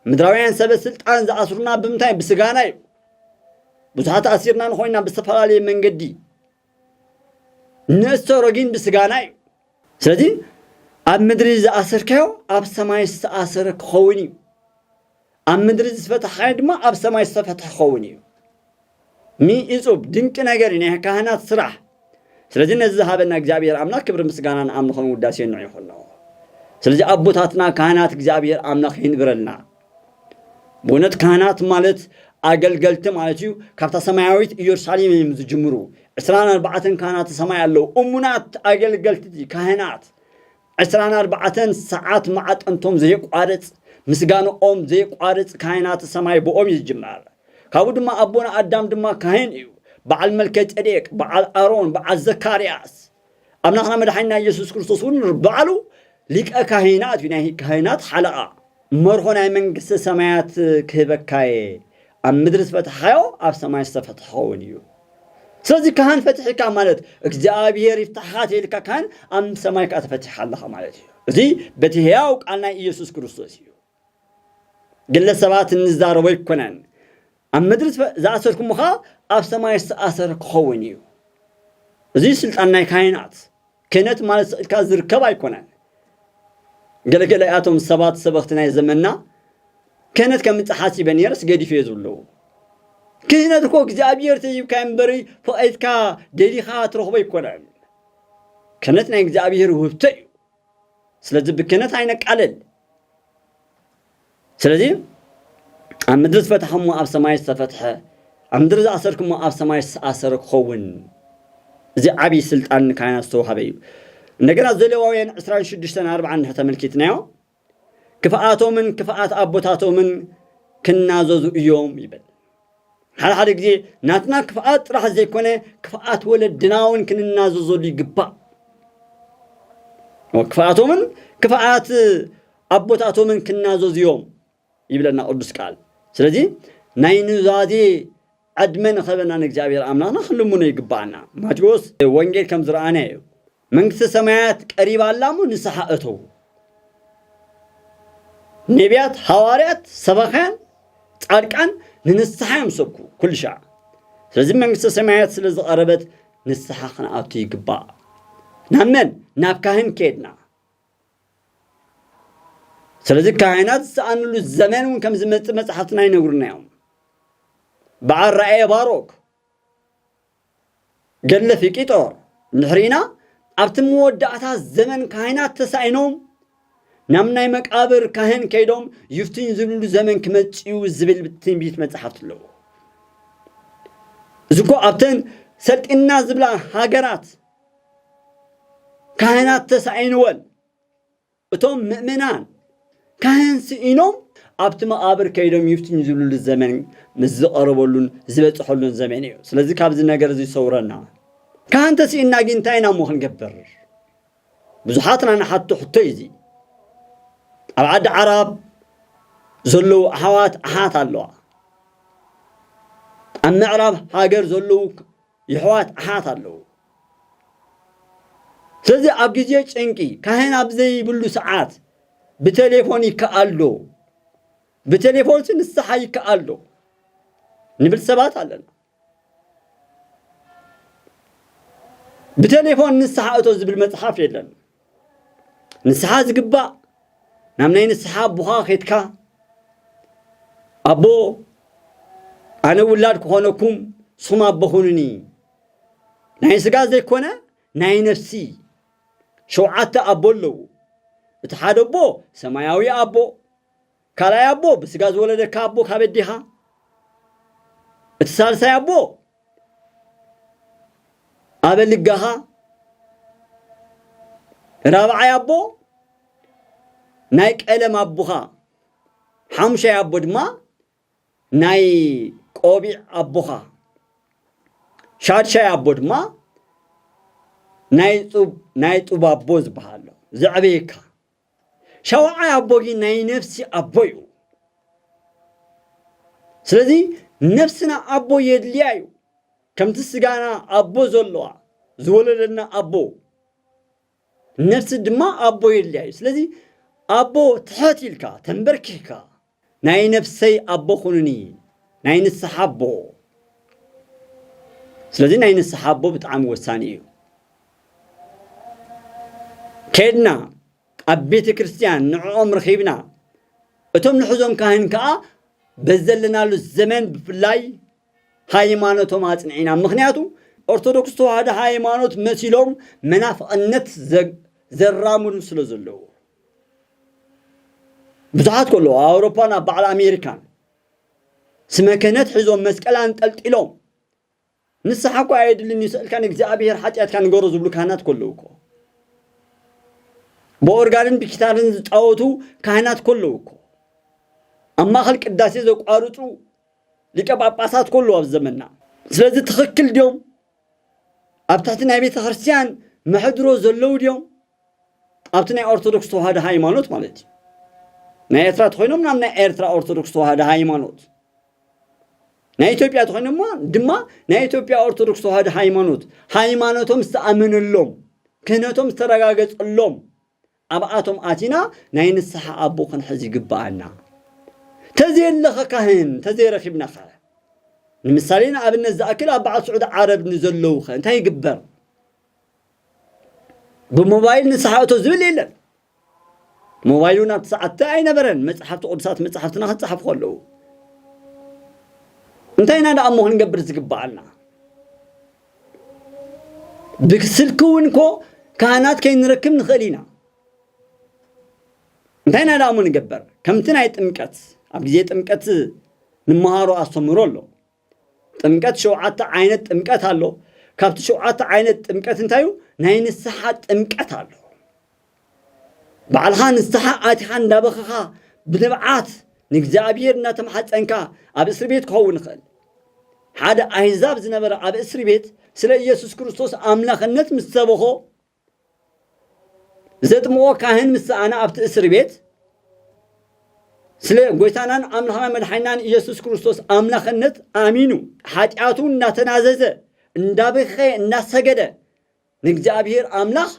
ምድራውያን ሰበ ስልጣን ዝኣስሩና ብምንታይ ብስጋና እዩ ብዙሓት ኣሲርና ንኮይና ብዝተፈላለየ መንገዲ ነእሰሮ ጊን ብስጋና እዩ ስለዚ ኣብ ምድሪ ዝኣሰርካዮ ኣብ ሰማይ ዝተኣሰረ ክኸውን እዩ ኣብ ምድሪ ዝፈታሕካዮ ድማ ኣብ ሰማይ ዝተፈትሐ ክኸውን እዩ ሚ እጹብ ድንቂ ነገር እዩ ናይ ካህናት ስራሕ ስለዚ ነዚ ዝሃበና እግዚኣብሔር ኣምላክ ክብሪ ምስጋና ንኣምልኾን ውዳሴን ንዑ ይኹን ስለዚ ኣቦታትና ካህናት እግዚኣብሔር ኣምላክ ይንብረልና ብእውነት ካህናት ማለት ኣገልገልቲ ማለት እዩ ካብታ ሰማያዊት ኢየሩሳሌም እዮም ዝጅምሩ ዕስራን ኣርባዕተን ካህናተ ሰማይ ኣለዉ እሙናት ኣገልገልቲ ካህናት ዕስራን ኣርባዕተን ሰዓት መዓጠንቶም ዘየቋርፅ ምስጋንኦም ዘየቋርፅ ካህናተ ሰማይ ብኦም እዩ ዝጅመር ካብኡ ድማ ኣቦና ኣዳም ድማ ካህን እዩ በዓል መልከ ጼዴቅ በዓል ኣሮን በዓል ዘካርያስ ኣምላኽና መድሓኒና ኢየሱስ ክርስቶስ እውን ባዕሉ ሊቀ ካህናት እዩ ናይ ካህናት ሓለቓ መርሆ ናይ መንግስተ ሰማያት ክህበካ እየ ኣብ ምድሪ ዝፈትሓዮ ኣብ ሰማይ ዝተፈትሐ ኸውን እዩ ስለዚ ካህን ፈትሒካ ማለት እግዚኣብሔር ይፍታሕኻ ተይልካ ካህን ኣብ ሰማይ ከዓ ተፈቲሓ ኣለኻ ማለት እዩ እዚ በቲ ህያው ቃል ናይ ኢየሱስ ክርስቶስ እዩ ግለ ሰባት እንዛረቦ ኣይኮነን ኣብ ምድሪ ዝኣሰርኩሞ ኸኣ ኣብ ሰማይ ዝተኣሰረ ክኸውን እዩ እዚ ስልጣን ናይ ካህናት ክህነት ማለት ስእልካ ዝርከብ ኣይኮነን ገለገለ እያቶም ሰባት ሰበኽቲ ናይ ዘመንና ክህነት ከም እትሓሲበ ነይረስ ገዲፈ እየ ዝብሉ ክህነት እኮ እግዚኣብሔር ተሂብካ እምበሪ ፈቒድካ ደሊኻ ትረኽቦ ኣይኮነን ክህነት ናይ እግዚኣብሔር ውህብቶ እዩ ስለዚ ብክነት ኣይነቃልል። ስለዚ ኣብ ምድሪ ዝፈታሕሞ ኣብ ሰማይ ዝተፈትሐ ኣብ ምድሪ ዝኣሰርክሞ ኣብ ሰማይ ዝተኣሰረ ክኸውን እዚ ዓብዪ ስልጣን ንካህናት ዝተዋሃበ እዩ። እንደገና ዘሌዋውያን 26 4 እንድሕር ተመልኪትናዮ ክፍኣቶምን ክፍኣት ኣቦታቶምን ክናዘዙ እዮም ይብል። ሓደ ሓደ ግዜ ናትና ክፍኣት ጥራሕ ዘይኮነ ክፍኣት ወለድና እውን ክንናዘዘሉ ይግባእ። ክፍኣቶምን ክፍኣት ኣቦታቶምን ክናዘዙ እዮም ይብለና ቅዱስ ቃል። ስለዚ ናይ ኑዛዜ ዕድመ ንኸበና ንእግዚኣብሔር ኣምላኽና ክንልምኖ ይግባኣና። ማቴዎስ ወንጌል ከም ዝረኣናዮ መንግስተ ሰማያት ቀሪባ ኣላ እሞ ንስሓ እተዉ። ኔብያት፣ ሃዋርያት፣ ሰባኽያን፣ ጻድቃን ንንስሓ እዮም ዝሰብኩ ኩሉ ሻዕ። ስለዚ መንግስተ ሰማያት ስለ ዝቐረበት ንስሓ ክንኣቱ ይግባእ። ናብ መን? ናብ ካህን ከድና። ስለዚ ካህናት ዝሰኣንሉ ዘመን እውን ከም ዝመጽእ መጽሓፍትና ይነግሩና እዮም። በዓል ራእየ ባሮክ ገድለ ፊቂጦር እንድሕሪና ኣብቲ መወዳእታ ዘመን ካህናት ተሳኢኖም ናብ ናይ መቃብር ካህን ከይዶም ይፍትኝ ዝብልሉ ዘመን ክመጽኡ ዝብል ትንቢት መጽሓፍቲ ኣለዎ እዚ እኮ ኣብተን ሰልጢና ዝብላ ሃገራት ካህናት ተሳኢንወን እቶም ምእመናን ካህን ስኢኖም ኣብቲ መቓብር ከይዶም ይፍትኙ ዝብልሉ ዘመን ምስ ዝቐረበሉን ዝበጽሐሉን ዘመን እዩ። ስለዚ ካብዚ ነገር እዚ ሰውረና። ካህን ተስኢንና ግን እንታይ ኢና እሞ ክንገብር? ብዙሓትና ንሓቶ ሕቶ እዩ እዚ። ኣብ ዓዲ ዓራብ ዘለዉ ኣሕዋት ኣሓት ኣለዋ ኣብ ምዕራብ ሃገር ዘለዉ የሕዋት ኣሓት ኣለዉ ስለዚ ኣብ ግዜ ጭንቂ ካህን ኣብ ዘይብሉ ሰዓት ብተሌፎን ይከኣል ዶ ብተሌፎንሲ ንስሓ ይከኣል ዶ ንብል ሰባት ኣለና ብተሌፎን ንስሓ እቶ ዝብል መጽሓፍ የለን ንስሓ ዝግባእ ናብ ናይ ንስሓ ኣቦኻ ኼድካ ኣቦ ኣነ ውላድ ክኾነኩም ንስኹም ኣቦ ኹኑኒ ናይ ስጋ ዘይኮነ ናይ ነፍሲ ሸውዓተ ኣቦ ኣለዉ እቲ ሓደ ኣቦ ሰማያዊ ኣቦ ካልኣይ ኣቦ ብስጋ ዝወለደካ ኣቦ ካብ ኣዴኻ፣ እቲ ሳልሳይ ኣቦ ኣበ ልጋኻ፣ ራብዓይ ኣቦ ናይ ቀለም ኣቦኻ፣ ሓሙሻይ ኣቦ ድማ ናይ ቆቢዕ ኣቦኻ፣ ሻድሻይ ኣቦ ድማ ናይ ጡብ ናይ ጡብ ኣቦ ዝበሃሎ ዘዕበየካ ሻውዓይ ኣቦ ግን ናይ ነፍሲ ኣቦ እዩ ስለዚ ነፍስና ኣቦ የድልያ እዩ ከምቲ ስጋና ኣቦ ዘለዋ ዝወለደና ኣቦ ነፍሲ ድማ ኣቦ የድልያ እዩ ስለዚ ኣቦ ትሐት ኢልካ ተንበርኪሕካ ናይ ነፍሰይ ኣቦ ኹኑኒ ናይ ንስሓ ኣቦ ስለዚ ናይ ንስሓ ኣቦ ብጣዕሚ ወሳኒ እዩ ከድና ኣብ ቤተ ክርስቲያን ንዕኦም ረኺብና እቶም ንሕዞም ካህን ከዓ በዘለናሉ ዘመን ብፍላይ ሃይማኖቶም ኣፅንዒና ምክንያቱ ኦርቶዶክስ ተዋህዶ ሃይማኖት መሲሎም መናፍቕነት ዘራምዱ ስለ ዘለዉ ብዙሓት ከሎ ኣብ ኣውሮፓን ኣብ በዓል ኣሜሪካን ስመ ክህነት ሒዞም መስቀል ኣንጠልጢሎም ንስሓ እኳ ኣየድልን እዩ ስእልካ ንእግዚኣብሔር ሓጢኣትካ ንገሮ ዝብሉ ካህናት ከለዉ እኮ ብኦርጋንን ብኪታርን ዝፃወቱ ካህናት ከለዉ እኮ ኣብ ማእኸል ቅዳሴ ዘቋርፁ ሊቀ ጳጳሳት ከለዉ ኣብ ዘመና ስለዚ ትኽክል ድዮም ኣብ ትሕቲ ናይ ቤተ ክርስቲያን መሕድሮ ዘለዉ ድዮም ኣብቲ ናይ ኦርቶዶክስ ተዋህዶ ሃይማኖት ማለት እዩ ናይ ኤርትራ ተኾይኖም ናብ ናይ ኤርትራ ኦርቶዶክስ ተዋህዶ ሃይማኖት ናይ ኢትዮጵያ ተኾይኖም ድማ ናይ ኢትዮጵያ ኦርቶዶክስ ተዋህዶ ሃይማኖት ሃይማኖቶም ዝተኣመነሎም ክህነቶም ዝተረጋገጸሎም ኣብኣቶም ኣቲና ናይ ንስሓ ኣቦ ክንሕዝ ይግብኣና ተዘየለኸ ካህን ተዘይረኺብና ኸ ንምሳሌ ንኣብነት ዝኣክል ኣብ በዓል ስዑድ ዓረብ ንዘለዉ ኸ እንታይ ይግበር ብሞባይል ንስሓ እቶ ዝብል የለን ሞባይሉ ናብ ትስዓተ ኣይነበረን መፅሓፍቲ ቅዱሳት መፅሓፍትና ክፀሓፉ ከለዉ እንታይ ኢና ደኣ እሞ ክንገብር ዝግብኣና ብስልኪ እውን እኮ ካህናት ከይንረክብ ንኽእል ኢና እንታይ ኢና ደኣ እሞ ንገበር ከምቲ ናይ ጥምቀት ኣብ ግዜ ጥምቀት ንመሃሮ ኣስተምህሮ ኣሎ ጥምቀት ሸውዓተ ዓይነት ጥምቀት ኣሎ። ካብቲ ሸውዓተ ዓይነት ጥምቀት እንታይ እዩ? ናይ ንስሓ ጥምቀት ኣሎ። ባዕልኻ ንስሓ ኣቲኻ እንዳበኸኻ ብንብዓት ንእግዚኣብሔር እናተማሓፀንካ ኣብ እስሪ ቤት ክኸውን ይኽእል። ሓደ ኣህዛብ ዝነበረ ኣብ እስሪ ቤት ስለ ኢየሱስ ክርስቶስ ኣምላኽነት ምስ ሰበኾ ዘጥምቆ ካህን ምስ ሰኣነ ኣብቲ እስር ቤት ስለ ጎይታናን ኣምላኽና መድሓኒናን ኢየሱስ ክርስቶስ ኣምላኽነት ኣሚኑ ሓጢኣቱ እናተናዘዘ እንዳበኸየ እናሰገደ ንእግዚኣብሔር ኣምላኽ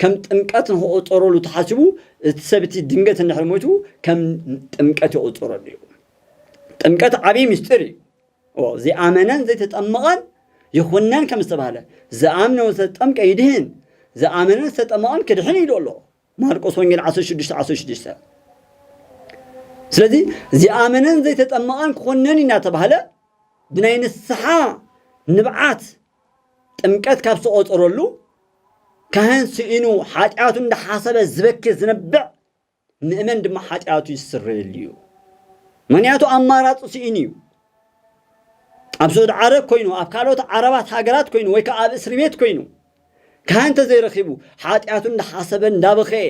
ከም ጥምቀት ንክቁፀረሉ ተሓስቡ እቲ ሰብ እቲ ድንገት እንድሕር ሞይቱ ከም ጥምቀት ይቁፀረሉ እዩ ጥምቀት ዓብዪ ምስጢር እዩ ዚኣመነን ዘይተጠምቐን ይኹነን ከም ዝተባህለ፣ ዝኣምነ ዝተጠምቀ ይድህን፣ ዝኣመነን ዝተጠመቐን ክድሕን እዩ ኢሉ ኣሎ። ማርቆስ ወንጌል ዓሰርተ ሽዱሽተ ዓሰርተ ሽዱሽተ ስለዚ ዚኣመነን ዘይተጠመቐን ክኹነን እዩ እናተባህለ ብናይ ንስሓ ንብዓት ጥምቀት ካብ ዝተቖፀረሉ ካህን ስኢኑ ሓጢኣቱ እንዳሓሰበ ዝበኪ ዝነብዕ ምእመን ድማ ሓጢኣቱ ይስረየሉ እዩ። ምክንያቱ ኣማራፂ ስኢኑ እዩ። ኣብ ስዑድ ዓረብ ኮይኑ ኣብ ካልኦት ዓረባት ሃገራት ኮይኑ ወይ ከዓ ኣብ እስሪ ቤት ኮይኑ ካህን ተዘይረኺቡ ሓጢኣቱ እንዳሓሰበ እንዳበኸየ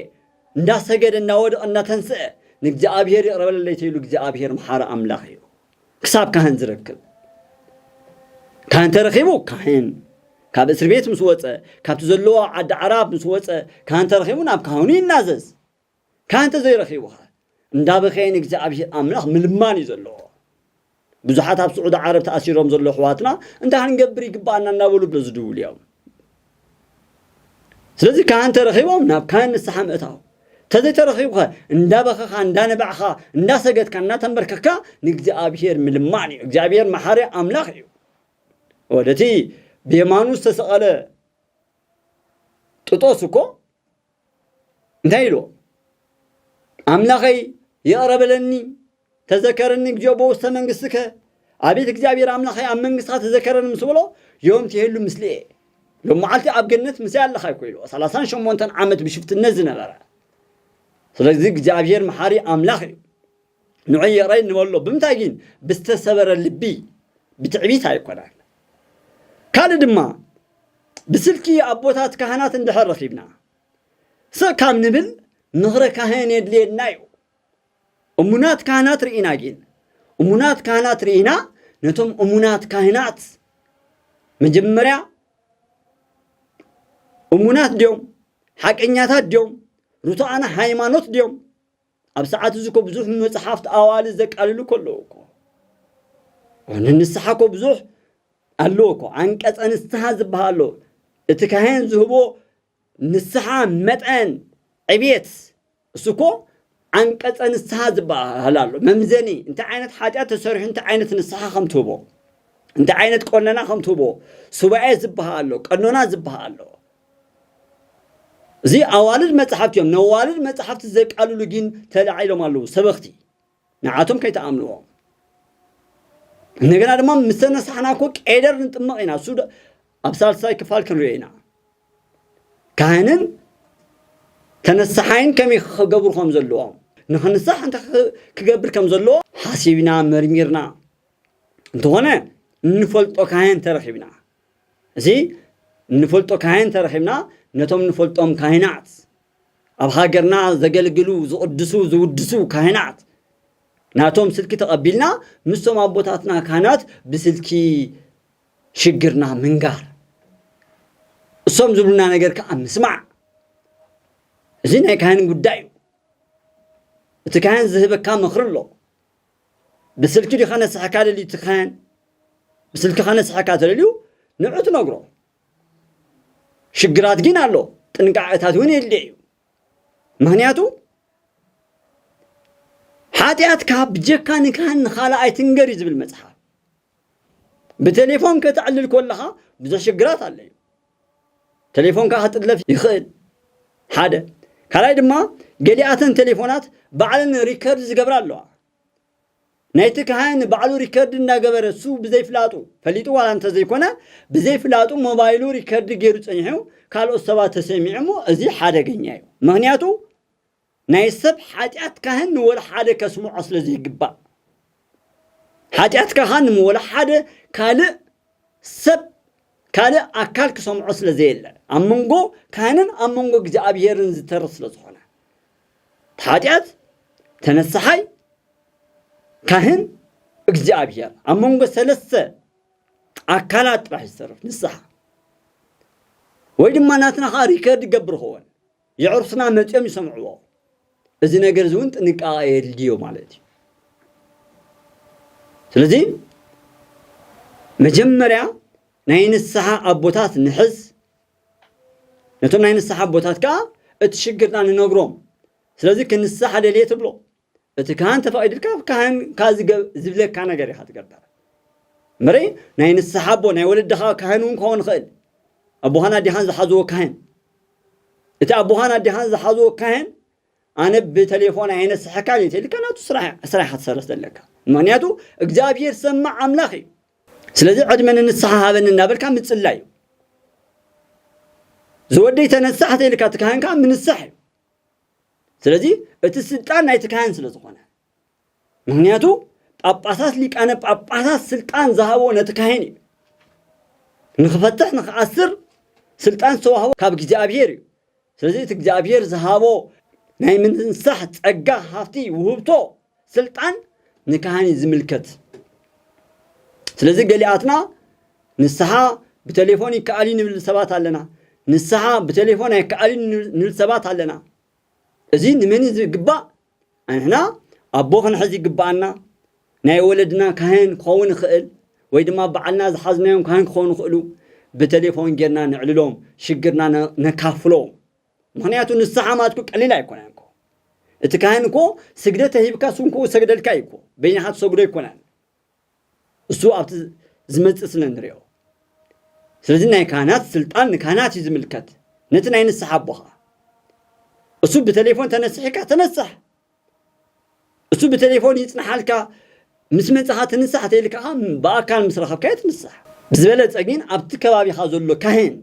እንዳሰገደ እንዳወደቐ እንዳተንስአ ንእግዚኣብሔር ይቕረ በለለይ ተይሉ እግዚኣብሔር መሓሪ ኣምላኽ እዩ። ክሳብ ካህን ዝረክብ ካህን ተረኺቡ ካህን ካብ እስር ቤት ምስ ወፀ ካብቲ ዘለዎ ዓዲ ዓራብ ምስ ወፀ ካህን ተረኺቡ ናብ ካህኑ ይናዘዝ ካህን ተዘይረኺቡ ኸ እንዳበኸየ ንእግዚኣብሄር ኣምላኽ ምልማን እዩ ዘለዎ ብዙሓት ኣብ ስዑዲ ዓረብ ተኣሲሮም ዘሎ ኣሕዋትና እንታይ ክንገብር ይግባኣና እናበሉ ብሎ ዝድውሉ እዮም ስለዚ ካህን ተረኺቦም ናብ ካህን ንስሓ ምእታው ተዘይተረኺቡኸ እንዳበኸኻ እንዳነበዕኻ እንዳሰገድካ እናተንበርከካ ንእግዚኣብሔር ምልማን እዩ እግዚኣብሔር መሓሪ ኣምላኽ እዩ ወደቲ ብየማኑ ዝተሰቐለ ጥጦስ እኮ እንታይ ኢልዎ ኣምላኸይ ይቕረ በለኒ ተዘከረኒ እግዚኦ በውስተ መንግስትከ ኣቤት እግዚኣብሔር ኣምላኸይ ኣብ መንግስትኻ ተዘከረኒ ምስ በሎ ዮም ትሄሉ ምስልየ ሎም መዓልቲ ኣብ ገነት ምስይ ኣለኻ ይኮ ኢልዎ ሰላሳን ሸሞንተን ዓመት ብሽፍትነት ዝነበረ ስለዚ እግዚኣብሔር መሓሪ ኣምላኽ እዩ ንዕየረይ ንበሎ ብምንታይ ግን ብዝተሰበረ ልቢ ብትዕቢት ኣይኮናን ካልእ ድማ ብስልኪ ኣቦታት ካህናት እንድሕር ረኺብና ስቕ ካብ ንብል ምኽረ ካህን የድልየና እዩ እሙናት ካህናት ርኢና ግን እሙናት ካህናት ርኢና ነቶም እሙናት ካህናት መጀመርያ እሙናት ድዮም ሓቀኛታት ድዮም ርቱዓና ሃይማኖት ድዮም ኣብ ሰዓት እዚ እኮ ብዙሕ መጽሓፍት ኣዋልድ ዘቃልሉ ከለዉ እኮ ንንስሓ እኮ ብዙሕ ኣለዎ እኮ ዓንቀጸ ንስሓ ዝበሃል ኣሎ እቲ ካህን ዝህቦ ንስሓ መጠን ዕብየት እሱ እኮ ዓንቀጸ ንስሓ ዝበሃል ኣሎ መምዘኒ እንታይ ዓይነት ሓጢኣት ተሰሪሑ እንታይ ዓይነት ንስሓ ከም ትህቦ እንታይ ዓይነት ቆነና ከም ትህቦ ሱባኤ ዝበሃል ኣሎ ቀኖና ዝበሃል ኣሎ እዚ ኣዋልድ መጻሕፍቲ እዮም። ነዋልድ መጻሕፍቲ ዘቃልሉ ግን ተላዒሎም ኣለዉ ሰበኽቲ ንዓቶም ከይተኣምንዎም እንደገና ድማ ምስ ተነሳሕና እኮ ቄደር ንጥመቕ ኢና እሱ ኣብ ሳልሳይ ክፋል ክንሪኦ ኢና ካህንን ተነሳሓይን ከመይ ክገብሩ ከም ዘለዎም ንክንሳሕ እንታይ ክገብር ከም ዘለዎ ሓሲብና መርሚርና እንተኾነ እንፈልጦ ካህን ተረኺብና እዚ እንፈልጦ ካህን ተረኺብና ነቶም እንፈልጦም ካህናት ኣብ ሃገርና ዘገልግሉ ዝቕድሱ ዝውድሱ ካህናት ናቶም ስልኪ ተቐቢልና ምስቶም ኣቦታትና ካህናት ብስልኪ ሽግርና ምንጋር እሶም ዝብሉና ነገር ከዓ ምስማዕ እዚ ናይ ካህን ጉዳይ እዩ እቲ ካህን ዝህበካ ምኽሪ ኣሎ ብስልኪ ድዩ ከነስሐካ ደሊትኻን ብስልኪ ከነስሐካ ተደልዩ ንዑ ትነግሮ ሽግራት ግን ኣሎ ጥንቃቐታት እውን የድልየ እዩ ምክንያቱ ሓጢኣትካ ብጀካ ንካህን ንካልእ ኣይትንገር እዩ ዝብል መፅሓፍ ብቴሌፎን ከተዕልል ኮለኻ ብዙሕ ሽግራት ኣሎ እዩ ቴሌፎንካ ክጥለፍ ይኽእል ሓደ ካልኣይ ድማ ገሊኣተን ቴሌፎናት ባዕለን ሪከርድ ዝገብራ ኣለዋ ናይቲ ካህን ባዕሉ ሪከርድ እናገበረ እሱ ብዘይፍላጡ ፈሊጡ ዋላ እንተዘይኮነ ብዘይፍላጡ ሞባይሉ ሪከርድ ገይሩ ፀኒሑ ካልኦት ሰባት ተሰሚዑ እሞ እዚ ሓደገኛ እዩ ምክንያቱ ናይ ሰብ ሓጢኣት ካህን ንወላሓደ ከስምዖ ስለ ዘይግባእ፣ ሓጢኣት ካህን ንወላሓደ ካልእ ሰብ ካልእ ኣካል ክሰምዖ ስለ ዘየለ፣ ኣብ መንጎ ካህንን ኣብ መንጎ እግዚኣብሄርን ዝተርፍ ስለ ዝኾነ፣ እቲ ሓጢኣት ተነሳሓይ ካህን እግዚኣብሄር ኣብ መንጎ ሰለስተ ኣካላት ጥራሕ ዝተርፍ ንስሓ ወይ ድማ ናትና ከኣ ሪከርድ ይገብር ክኸውን የዕሩኽትና መጺኦም ይሰምዕዎ። እዚ ነገር እውን ጥንቃቐ የድልዮ ማለት እዩ። ስለዚ መጀመርያ ናይ ንስሓ ኣቦታት ንሕዝ፣ ነቶም ናይ ንስሓ ኣቦታት ከዓ እቲ ሽግርና ንነግሮም። ስለዚ ክንስሓ ደልየ ትብሎ። እቲ ካህን ተፈቒድልካ ካህንካ ዝብለካ ነገር ኢኻ ትገብር እምበሪ ናይ ንስሓ ኣቦ ናይ ወለድኻ ካህን እውን ክኸውን ይኽእል ኣቦኻን ኣዴኻን ዝሓዝዎ ካህን እቲ ኣቦኻን ኣዴኻን ዝሓዝዎ ካህን ኣነ ብቴሌፎን ኣየነስሐካን እዩ ተልካ ናቱ ስራሕ ኢኻ ትሰርሕ ዘለካ ምክንያቱ እግዚኣብሄር ሰማዕ ኣምላኽ እዩ ስለዚ ዕድመ ንንስሓ ሃበኒ እናበልካ ምፅላይ እዩ ዝወደይ ተነሳሕ ተልካ እቲ ካህን ከዓ ምንሳሕ እዩ ስለዚ እቲ ስልጣን ናይቲ ካህን ስለ ዝኾነ ምክንያቱ ጳጳሳት ሊቃነ ጳጳሳት ስልጣን ዝሃቦ ነቲ ካህን እዩ ንክፈትሕ ንክኣስር ስልጣን ዝተዋህቦ ካብ እግዚኣብሄር እዩ ስለዚ እቲ እግዚኣብሄር ዝሃቦ ናይ ምንሳሕ ጸጋ ሃፍቲ ውህብቶ ስልጣን ንካህን እዩ ዝምልከት። ስለዚ ገሊኣትና ንስሓ ብተሌፎን ይከኣል እዩ ንብል ሰባት ኣለና። ንስሓ ብተሌፎን ኣይከኣል እዩ ንብል ሰባት ኣለና። እዚ ንመን እዩ ዝግባእ? ኣንሕና ኣቦ ክንሕዝ ይግባኣና። ናይ ወለድና ካህን ክኸውን ይኽእል ወይ ድማ በዓልና ዝሓዝናዮም ካህን ክኾኑ ይኽእሉ። ብተሌፎን ጌርና ነዕልሎም፣ ሽግርና ነካፍሎም። ምክንያቱ ንስሓ ማትኩ ቀሊል ኣይኮነን እኮ እቲ ካህን እኮ ስግደት ተሂብካ ስንኩኡ ሰግደልካ እዩ እኮ በይንኻ ትሰግዶ ኣይኮነን እሱ ኣብቲ ዝመፅእ ስለ ንሪኦ ስለዚ ናይ ካህናት ስልጣን ንካህናት እዩ ዝምልከት ነቲ ናይ ንስሓ ኣቦኻ እሱ ብቴሌፎን ተነስሒካ ተነስሕ እሱ ብቴሌፎን ይፅንሓልካ ምስ መፅኻ ትንሳሕ ተይልካ ብኣካል ምስ ረኸብካዮ ትንሳሕ ብዝበለፀ ግን ኣብቲ ከባቢኻ ዘሎ ካህን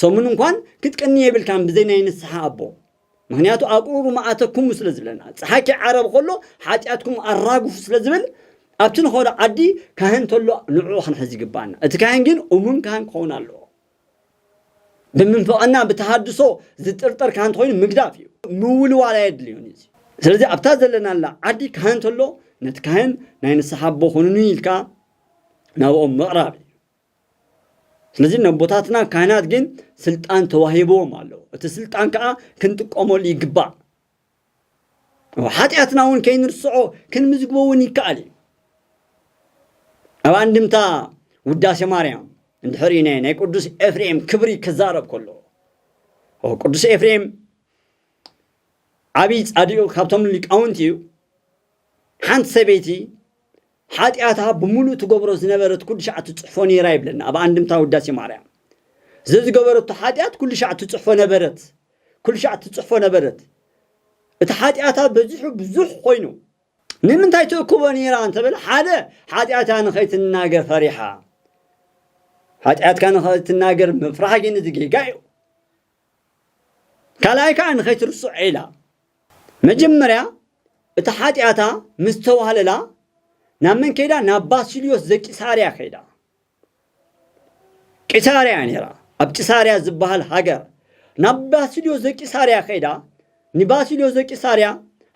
ሰሙን እንኳን ክትቅኒ የብልካን ብዘይ ናይ ንስሓ ኣቦ ምክንያቱ ኣቁሩሩ መኣተኩሙ ስለ ዝብለና ፀሓኪ ዓረብ ከሎ ሓጢኣትኩም ኣራግፉ ስለ ዝብል ኣብቲ ንኸዶ ዓዲ ካህን ተሎ ንዕኡ ክንሕዝ ይግባኣና እቲ ካህን ግን እሙን ካህን ክኸውን ኣለዎ ብምንፍቕና ብተሃድሶ ዝጥርጠር ካህን እንተኮይኑ ምግዳፍ እዩ ምውልዋል ኣየድልዮን እዩ ስለዚ ኣብታ ዘለናላ ዓዲ ካህን ተሎ ነቲ ካህን ናይ ንስሓ ኣቦ ኮኑኒ ኢልካ ናብኦም ምቕራብ እዩ ስለዚ ነቦታትና ካህናት ግን ስልጣን ተዋሂብዎም ኣሎ እቲ ስልጣን ከዓ ክንጥቀመሉ ይግባእ ሓጢኣትና እውን ከይንርስዖ ክንምዝግቦ እውን ይከኣል እዩ ኣብ ኣንድምታ ውዳሴ ማርያም እንድሕሪ ናይ ናይ ቅዱስ ኤፍሬም ክብሪ ክዛረብ ከሎ ቅዱስ ኤፍሬም ዓብዪ ፃዲኡ ካብቶም ሊቃውንቲ እዩ ሓንቲ ሰበይቲ ሓጢኣታ ብምሉእ ትገብሮ ዝነበረት ኩሉ ሻዕ ትጽሕፎ ነይራ ይብለና ኣብ ኣንድምታ ውዳሴ ማርያም። ዘዝገበረቶ ሓጢኣት ኩሉ ሻዕ ትጽሕፎ ነበረት ኩሉ ሻዕ ትጽሕፎ ነበረት። እቲ ሓጢኣታ በዚሑ ብዙሕ ኮይኑ። ንምንታይ ትእክቦ ነይራ እንተበለ ሓደ ሓጢኣታ ንኸይትናገር ፈሪሓ። ሓጢኣትካ ንኸይትናገር ምፍራሕ ግን እዚ ጌጋ እዩ። ካልኣይ ከዓ ንኸይትርስዖ ኢላ። መጀመርያ እቲ ሓጢኣታ ምስ ተዋህለላ ናብ መን ከይዳ? ናብ ባስልዮስ ዘቂሳርያ ከይዳ። ቂሳርያ እያ ነይራ፣ ኣብ ቂሳርያ ዝበሃል ሃገር። ናብ ባስልዮስ ዘቂሳርያ ከይዳ፣ ንባስልዮስ ዘቂሳርያ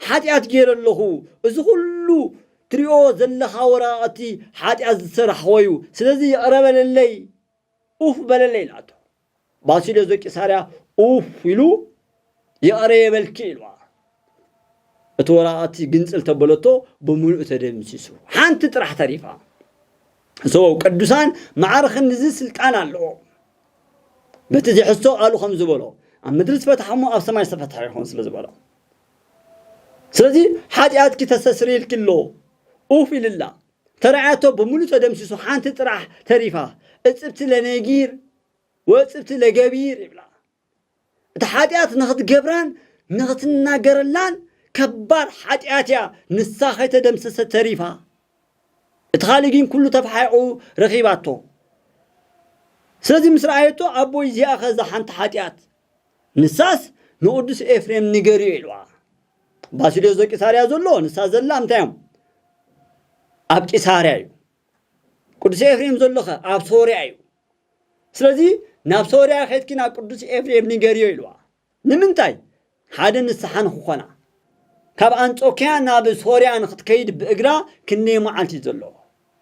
ሓጢኣት ገይረ ኣለኹ፣ እዚ ኩሉ ትሪኦ ዘለኻ ወረቓቕቲ ሓጢኣት ዝሰራሕኾ እዩ፣ ስለዚ ይቕረ በለለይ፣ ኡፍ በለለይ ኢላቶ። ባሲልዮስ ዘቂሳርያ ኡፍ ኢሉ ይቕረ የበልኪ ኢልዋ እቲ ወረቐት ግንጽል ተበለቶ ብምሉእ ተደምሲሱ ሓንቲ ጥራሕ ተሪፋ እሶ ቅዱሳን ማዕረ ክንድዚ ስልጣን ኣለዎ በቲ ዝሕዝቶ ቃሉ ከም ዝበሎ ኣብ ምድሪ ዝፈትሐ እሞ ኣብ ሰማይ ዝተፈትሐ ይኸውን ስለ ዝበሎ ስለዚ ሓጢኣትኪ ተሰስርየልኪ ኣሎ ኡፍ ኢልላ ተራዕያቶ ብምሉእ ተደምሲሱ ሓንቲ ጥራሕ ተሪፋ እጽብቲ ለነጊር ወእጽብቲ ለገቢር ይብላ። እታ ሓጢኣት ንኽትገብራን ንኽትናገረላን ከባድ ሓጢኣት እያ ንሳ ከይተደምሰሰት ተሪፋ። እቲ ካልእ ግን ኩሉ ተፋሒቑ ረኺባቶ። ስለዚ ምስ ረኣየቶ ኣቦይ እዚኣኸ እዛ ሓንቲ ሓጢኣት ንሳስ ንቕዱስ ኤፍሬም ንገርዮ ኢልዋ። ባስልዮስ ዘቂሳርያ ዘሎ ንሳ ዘላ እንታይ እዮም ኣብ ቂሳርያ እዩ ቅዱስ ኤፍሬም ዘሎ ከ ኣብ ሶርያ እዩ ስለዚ ናብ ሶርያ ኬድኪ ናብ ቅዱስ ኤፍሬም ንገርዮ ኢልዋ ንምንታይ ሓደ ንስሓ ንክኾና ካብ ኣንጾኪያ ናብ ሶርያ ንክትከይድ ብእግራ ክንደይ መዓልቲ እዩ ዘለዎ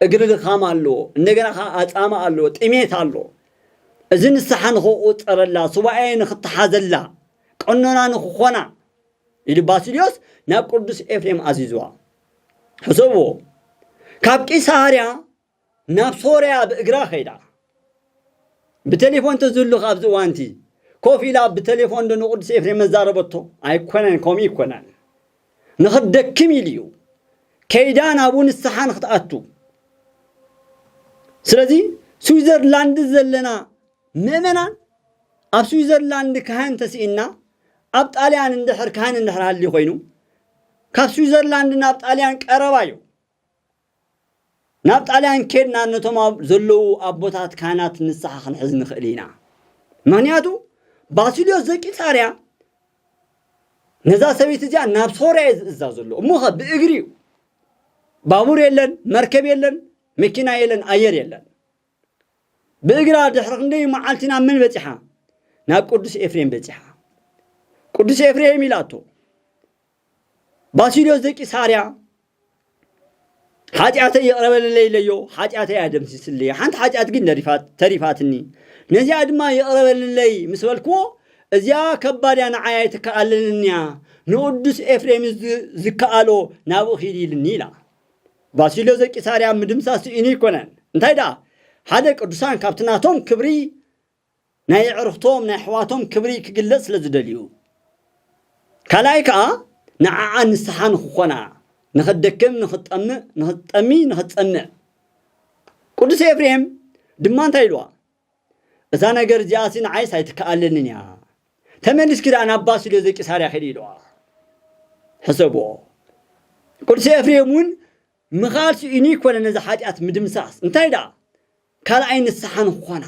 እግሪ ድኻም ኣለዎ እንደገና ከዓ ኣፃማ ኣለዎ ጥሜት ኣለዎ እዚ ንስሓ ንክቁፀረላ ሱባኤ ንክተሓዘላ ቀኖና ንክኾና ኢሉ ባስልዮስ ናብ ቅዱስ ኤፍሬም ኣዚዝዋ። ሕሰብዎ፣ ካብ ቂሳርያ ናብ ሶርያ ብእግራ ከይዳ ብቴሌፎን ተዝህሉኽ ኣብዚ እዋንቲ ኮፍ ኢላ ብቴሌፎን ዶ ንቅዱስ ኤፍሬም መዛረበቶ ኣይኮነን ከምኡ ይኮነን ንኽደክም ኢሉ እዩ ከይዳ ናብኡ ንስሓ ንክትኣቱ ስለዚ ስዊዘርላንድ ዘለና ምእመናን ኣብ ስዊዘርላንድ ካህን ተስኢና ኣብ ጣልያን እንድሕር ካህን እንድሕር ሃልዩ ኮይኑ ካብ ስዊዘርላንድ ናብ ጣልያን ቀረባ እዩ። ናብ ጣልያን ኬድና ነቶም ኣብ ዘለዉ ኣቦታት ካህናት ንስሓ ክንሕዝ ንኽእል ኢና። ምክንያቱ ባሲልዮስ ዘቂሳርያ ነዛ ሰበይቲ እዚኣ ናብ ሶርያ እዩ ዝእዛ ዘሎ እሞ ኸ ብእግሪ እዩ ባቡር የለን መርከብ የለን መኪና የለን ኣየር የለን ብእግራ ድሕሪ ክንደይ መዓልቲ ናብ መን በጺሓ? ናብ ቅዱስ ኤፍሬም በጺሓ። ቅዱስ ኤፍሬም ኢላቶ ባሲልዮስ ዘቂሳርያ ሓጢኣተይ ይቕረበለለይ ኢለዮ ሓጢኣተይ ኣደምሲስለይ ሓንቲ ሓጢኣት ግን ተሪፋትኒ ነዚኣ ድማ ይቕረበለለይ ምስ በልክዎ እዚኣ ከባድ እያ ንዓይ ኣይትከኣለንን እያ ንቅዱስ ኤፍሬም ዝከኣሎ ናብኡ ኺድ ኢልኒ ኢላ ባሲልዮ ዘቂሳርያ ምድምሳስ ስኢኑ ኣይኮነን እንታይ ደኣ ሓደ ቅዱሳን ካብቲ ናቶም ክብሪ ናይ የዕርኽቶም ናይ ኣሕዋቶም ክብሪ ክግለጽ ስለ ዝደልዩ ካልኣይ ከኣ ንዓኣ ንስሓ ንክኾና ንክትደክም ንክትጠምእ ንክትጠሚ ንክትጸምእ ቅዱስ ኤፍሬም ድማ እንታይ ኢልዋ እዛ ነገር እዚኣሲ ንዓይስ ኣይትከኣለንን እያ፣ ተመሊስኪ ደኣ ናብ ባስልዮዘ ቂሳርያ ኺዲ ኢልዋ። ሕሰብዎ፣ ቅዱስ ኤፍሬም እውን ምኽኣል ስኢኑ ኣይኰነን ነዚ ሓጢኣት ምድምሳስ፣ እንታይ ደኣ ካልኣይ ንስሓ ንክኾና።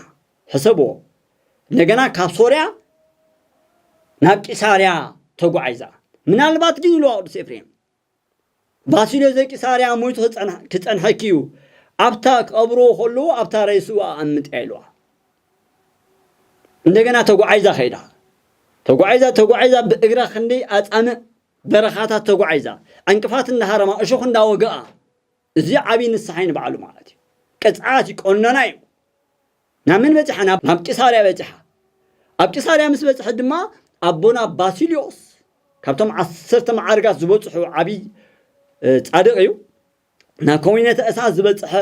ሕሰብዎ፣ እንደገና ካብ ሶርያ ናብ ቂሳርያ ተጓዒዛ። ምናልባት ግን ኢልዋ ቅዱስ ኤፍሬም፣ ባሲልዮስ ዘቂሳርያ ሞይቱ ክጸንሐኪ እዩ፣ ኣብታ ክቐብርዎ ከለዉ ኣብታ ሬስኡ ኣቐምጥያ ኢልዋ። እንደገና ተጓዒዛ ከይዳ። ተጓዒዛ ተጓዒዛ ብእግራ ክንደይ ኣጻምእ በረኻታት ተጓዒዛ፣ ዕንቅፋት እንዳሃረማ፣ እሾኽ እንዳወግኣ፣ እዚ ዓብይ ንስሓይ ንባዕሉ ማለት እዩ ቅፅዓት እዩ ቆኖና እዩ ናብ መን በፂሓ ናብ ቂሳርያ በፂሓ ኣብ ቂሳርያ ምስ በፅሐት ድማ ኣቦና ባሲልዮስ ካብቶም ዓሰርተ መዓርጋት ዝበፅሑ ዓብይ ፃድቕ እዩ ናብ ኮሚነተ እሳት ዝበፅሐ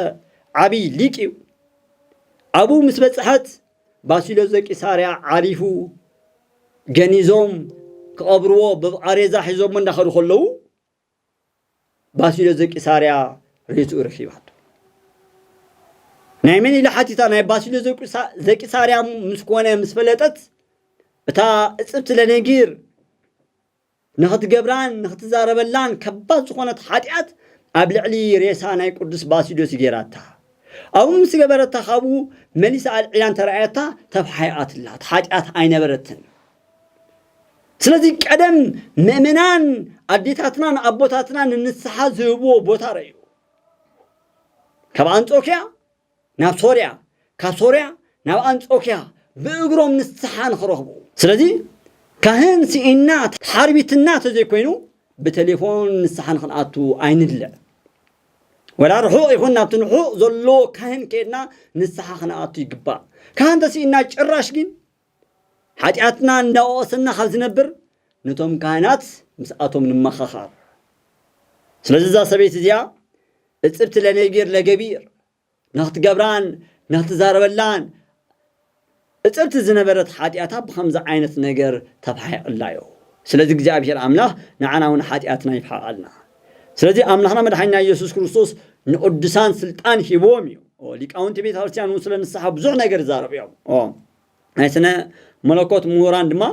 ዓብይ ሊቅ እዩ ኣብኡ ምስ በፅሐት ባሲልዮስ ዘቂሳርያ ዓሪፉ ገኒዞም ክቐብርዎ ብቓሬዛ ሒዞሞ እንዳኸዱ ከለዉ ባሲሎስ ዘቂሳርያ ርእስኡ ረኺባቶ ናይ መን ኢላ ሓቲታ ናይ ባሲሎስ ዘቂሳርያ ምስ ኮነ ምስ ፈለጠት እታ እጽብቲ ለነጊር ንኽትገብራን ንኽትዛረበላን ከባድ ዝኾነት ሓጢኣት ኣብ ልዕሊ ሬሳ ናይ ቅዱስ ባሲዶስ ገይራታ ኣብኡ ምስ ገበረታ ካብኡ መሊሳ ኣልዒላን ተረኣየታ ተፋሓይኣትላ እቲ ሓጢኣት ኣይነበረትን ስለዚ ቀደም ምእመናን ኣዴታትናን ኣቦታትናን ንንስሓ ዝህብዎ ቦታ ረእዩ ካብ ኣንጾኪያ ናብ ሶርያ ካብ ሶርያ ናብ ኣንጾኪያ ብእግሮም ንስሓ ንክረኽቡ ስለዚ ካህን ስኢና ሓርቢትና ተዘይኮይኑ ብቴሌፎን ንስሓ ንክንኣቱ ኣይንድለ ወላ ርሑቕ ይኹን ናብቲ ንሑቕ ዘሎ ካህን ከድና ንስሓ ክንኣቱ ይግባእ ካህን ተስኢና ጭራሽ ግን ሓጢኣትና እንዳወቐሰና ካብ ዝነብር ነቶም ካህናት ምስኣቶም ንመኻኻር። ስለዚ እዛ ሰበይቲ እዚኣ እጽብቲ ለነቢር ለገቢር ንክትገብራን ንክትዛረበላን እጽብቲ ዝነበረት ሓጢኣታ ብከምዚ ዓይነት ነገር ተፋሒቕላዮ። ስለዚ እግዚኣብሔር ኣምላኽ ንዓና እውን ሓጢኣትና ይፍሓቐልና። ስለዚ ኣምላኽና መድሓኒና ኢየሱስ ክርስቶስ ንቅዱሳን ስልጣን ሂብዎም እዩ ሊቃውንቲ ቤተ ክርስቲያን እውን ስለ ንስሓ ብዙሕ ነገር ይዛረቡ እዮም ናይ ስነ መለኮት ምሁራን ድማ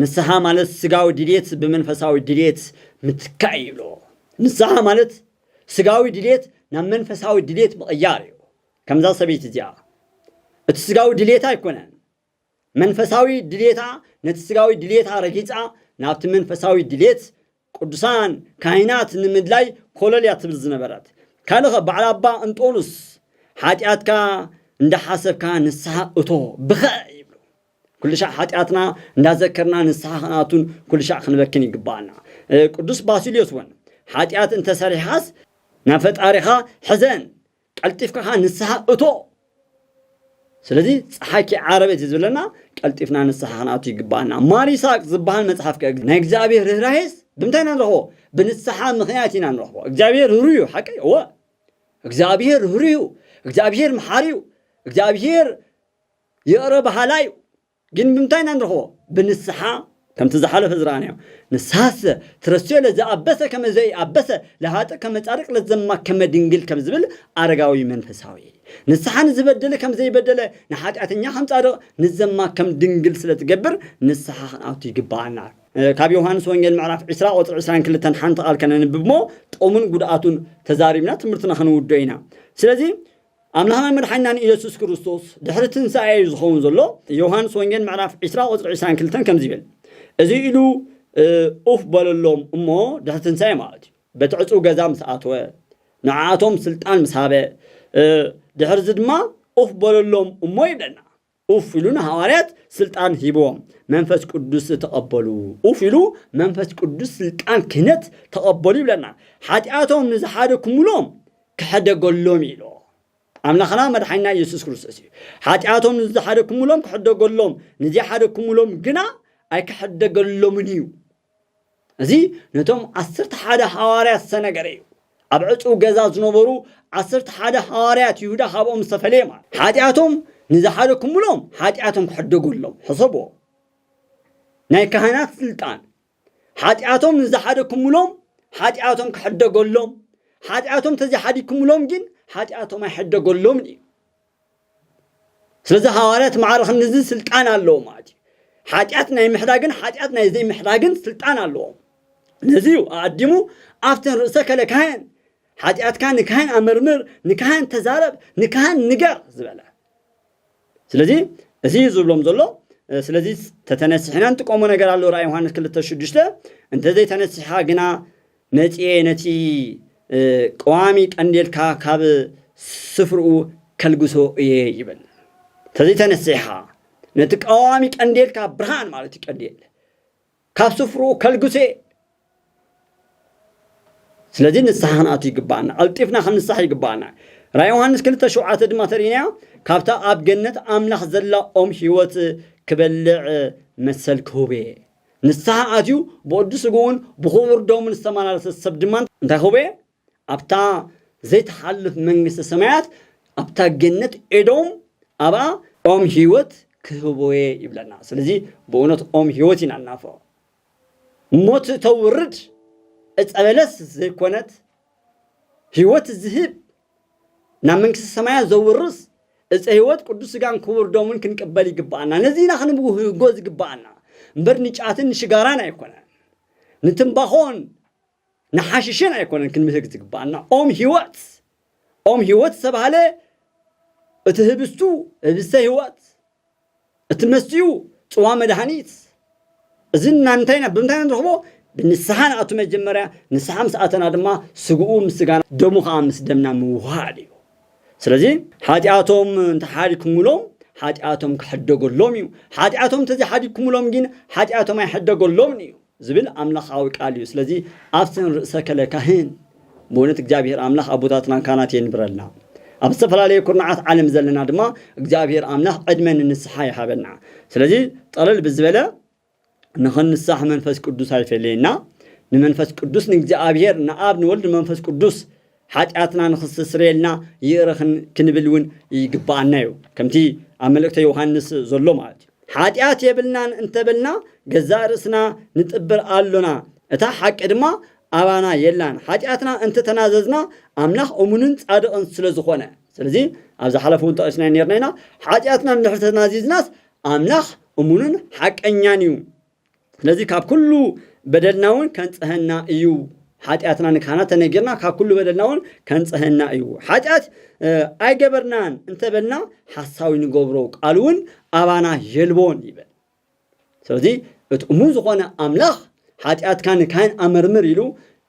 ንስሓ ማለት ስጋዊ ድሌት ብመንፈሳዊ ድሌት ምትካእ እዩ ይብልዎ ንስሓ ማለት ስጋዊ ድሌት ናብ መንፈሳዊ ድሌት ምቕያር እዩ ከምዛ ሰበይቲ እዚኣ እቲ ስጋዊ ድሌት ኣይኮነን መንፈሳዊ ድልየታ ነቲ ስጋዊ ድልየታ ረጊጻ ናብቲ መንፈሳዊ ድልየት ቅዱሳን ካህናት ንምድላይ ኮለል እያ ትብል ዝነበረት። ካልእኸ በዓል ኣባ እንጦኑስ ሓጢኣትካ እንዳሓሰብካ ንስሓ እቶ ብኸ ኩልሻዕ ሓጢኣትና እንዳዘከርና ንስሓ ክንኣቱን ኩልሻዕ ክንበክን ይግባኣና ቅዱስ ባሲልዮስ እውን ሓጢኣት እንተሰሪሕኻስ ናብ ፈጣሪኻ ሕዘን ቀልጢፍካ ከኣ ንስሓ እቶ። ስለዚ ጸሓይ ከይዓረበት እዩ ዝብለና ቀልጢፍና ንስሓ ክንኣቱ ይግብኣና። ማር ይስሃቅ ዝበሃል መጽሓፍ ከ ናይ እግዚኣብሔር ርህራሄስ ብምንታይ ኢና ንረኽቦ? ብንስሓ ምኽንያት ኢና ንረኽቦ። እግዚኣብሔር ርህሩህ እዩ ሓቂ እዩ እወ እግዚኣብሔር ርህሩህ እዩ። እግዚኣብሔር መሓሪ እዩ። እግዚኣብሔር ይቕረ በሃላይ እዩ። ግን ብምንታይ ኢና ንረኽቦ? ብንስሓ ከምቲ ዝሓለፈ ዝረኣናዮ። ንስሓሰ ትረስዮ ለዘኣበሰ ከመ ዘኢኣበሰ ለሃጥእ ከመ ጻድቅ ለዘማ ከመ ድንግል ከም ዝብል ኣረጋዊ መንፈሳዊ። ንስሓ ንዝበደለ ከም ዘይበደለ ንሓጢኣተኛ ከም ጻድቅ ንዘማ ከም ድንግል ስለ ትገብር ንስሓ ክንኣቱ ይግብኣና። ካብ ዮሃንስ ወንጌል ምዕራፍ ዕስራ ቁጽሪ ዕስራን ክልተን ሓንቲ ቃል ከነንብብ'ሞ ጥቕሙን ጉድኣቱን ተዛሪብና ትምህርትና ክንውድኦ ኢና። ስለዚ ኣምላኽናን መድሓኒናን ኢየሱስ ክርስቶስ ድሕሪ ትንሳኤ እዩ ዝኸውን ዘሎ። ዮውሃንስ ወንጌል ምዕራፍ ዕስራ ቁጽሪ ዕስራን ክልተን ከምዚ ይብል እዚ ኢሉ ኡፍ በለሎም እሞ ድሕሪ ትንሳኤ ማለት እዩ በቲ ዕጽው ገዛ ምስ ኣተወ ንዓኣቶም ስልጣን ምስ ሃበ ድሕርዚ ድማ ኡፍ በለሎም እሞ ይብለና። ኡፍ ኢሉ ንሃዋርያት ስልጣን ሂብዎም መንፈስ ቅዱስ ተቐበሉ። ኡፍ ኢሉ መንፈስ ቅዱስ ስልጣን ክህነት ተቐበሉ ይብለና። ሓጢኣቶም ንዝሓደኩምሎም ክሕደገሎም ኢሎ። ኣምላኽና መድሓኒና ኢየሱስ ክርስቶስ እዩ። ሓጢኣቶም ንዝሓደኩምሎም ክሕደገሎም፣ ንዘይሓደኩምሎም ግና ኣይክሕደገሎምን እዩ። እዚ ነቶም ዓሰርተ ሓደ ሓዋርያት ዝተነገረ እዩ። ኣብ ዕጹው ገዛ ዝነበሩ ዓሰርተ ሓደ ሓዋርያት ይሁዳ ካብኦም ዝተፈለየ ማለት እዩ። ሓጢኣቶም ንዝሓደኩምሎም ሓጢኣቶም ክሕደገሎም። ሕሰብዎ። ናይ ካህናት ስልጣን ሓጢኣቶም ንዝሓደኩምሎም ሓጢኣቶም ክሕደገሎም፣ ሓጢኣቶም ተዘይሓዲግኩምሎም ግን ሓጢኣቶም ኣይሕደገሎምን እዩ። ስለዚ ሃዋርያት ማዕረ ክንድዚ ስልጣን ኣለዎም ማለት እዩ ሓጢኣት ናይ ምሕዳግን ሓጢኣት ናይ ዘይምሕዳግን ስልጣን ኣለዎም ነዚ እዩ ኣቐዲሙ ኣብተን ርእሰ ከለ ካህን ሓጢኣትካ ንካህን ኣመርምር ንካህን ተዛረብ ንካህን ንገር ዝበለ ስለዚ እዚ እዩ ዝብሎም ዘሎ ስለዚ ተተነሲሕና ንጥቀሞ ነገር ኣሎ ራእይ ዮሃንስ ክልተ ሽዱሽተ እንተዘይተነሲሕኻ ግና መጺኤ ነቲ ቀዋሚ ቀንዴልካ ካብ ስፍርኡ ከልግሶ እየ ይብል። ተዘይተነሲሕኻ ነቲ ቀዋሚ ቀንዴልካ ብርሃን ማለት እዩ ቀንዴል ካብ ስፍርኡ ከልግሶ እየ ስለዚ ንስሓ ክንኣቱ ይግባኣና ቀልጢፍና ክንሳሕ ይግባኣና ራይ ዮሃንስ ክልተ ሸውዓተ ድማ ተርእናያ ካብታ ኣብ ገነት ኣምላኽ ዘላ ኦም ህይወት ክበልዕ መሰል ክህብ እየ ንስሓ ኣትዩ ብቕዱስ ስግኡን ብኽቡር ደሙን ዝተመላለሰ ሰብ ድማ እንታይ ክህቦ እየ? ኣብታ ዘይትሓልፍ መንግስተ ሰማያት፣ ኣብታ ገነት ኤዶም፣ ኣብኣ ኦም ህይወት ክህቦ እየ ይብለና። ስለዚ ብእውነት ኦም ህይወት ኢና ንናፍቕ። ሞት እተውርድ ዕፀ በለስ ዘይኮነት ህይወት ዝህብ ናብ መንግስተ ሰማያት ዘውርስ ዕፀ ህይወት ቅዱስ ስጋን ክቡር ደሙን ክንቅበል ይግብኣና። ነዚ ኢና ክንብህጎ ዝግብኣና እምበር ንጫትን ንሽጋራን ኣይኮነን፣ ንትምባኾን ንሓሽሽን ኣይኮነን ክንብህግ ዝግብኣና። ኦም ህይወት ኦም ህይወት ዝተባህለ እቲ ህብስቱ ህብስተ ህይወት እቲ መስትኡ ጽዋ መድኃኒት እዚ እናንታይ ኢና ብምንታይ ኢና ንረኽቦ ብንስሓ ንኣቱ መጀመርያ ንስሓ ምስ ኣተና ድማ ስግኡ ምስ ስጋና ደሙ ከኣ ምስ ደምና ምውህሃድ እዩ ስለዚ ሓጢኣቶም እንተ ሓዲግኩምሎም ሓጢኣቶም ክሕደገሎም እዩ ሓጢኣቶም እንተ ዘይሓዲግኩምሎም ግን ሓጢኣቶም ኣይሕደገሎምን እዩ። ዝብል ኣምላኻዊ ቃል እዩ ስለዚ ኣብሰን ርእሰ ከለ ካህን ብእውነት እግዚኣብሔር ኣምላኽ ኣቦታትናን ካህናት የንብረልና ኣብ ዝተፈላለየ ኩርናዓት ዓለም ዘለና ድማ እግዚኣብሔር ኣምላኽ ዕድመ ንንስሓ ይሃበና ስለዚ ጠለል ብዝበለ ንኽንሳሕ መንፈስ ቅዱስ ኣይፈለየና ንመንፈስ ቅዱስ ንእግዚኣብሔር ንኣብ ንወልድ ንመንፈስ ቅዱስ ሓጢኣትና ንኽስተስረየልና ይቕረ ክንብል እውን ይግብኣና እዩ። ከምቲ ኣብ መልእክተ ዮሃንስ ዘሎ ማለት እዩ። ሓጢኣት የብልናን እንተበልና ገዛእ ርእስና ንጥብር ኣሎና፣ እታ ሓቂ ድማ ኣባና የላን። ሓጢኣትና እንተተናዘዝና ኣምላኽ እሙንን ጻድቕን ስለ ዝኾነ። ስለዚ ኣብ ዝሓለፈ እውን ጠቒስናዮ ኔርና ኢና። ሓጢኣትና እንድሕር ተናዚዝናስ ኣምላኽ እሙንን ሓቀኛን እዩ። ስለዚ ካብ ኩሉ በደልና እውን ከንጽሀና እዩ ሓጢኣትና ንካህናት ተነጊርና ካብ ኩሉ በደልና እውን ከንጽሀና እዩ ሓጢኣት ኣይገበርናን እንተበልና ሓሳዊ ንገብሮ ቃል እውን ኣባና የልቦን ይብል ስለዚ እቲ እሙን ዝኾነ ኣምላኽ ሓጢኣትካ ንካህን ኣመርምር ኢሉ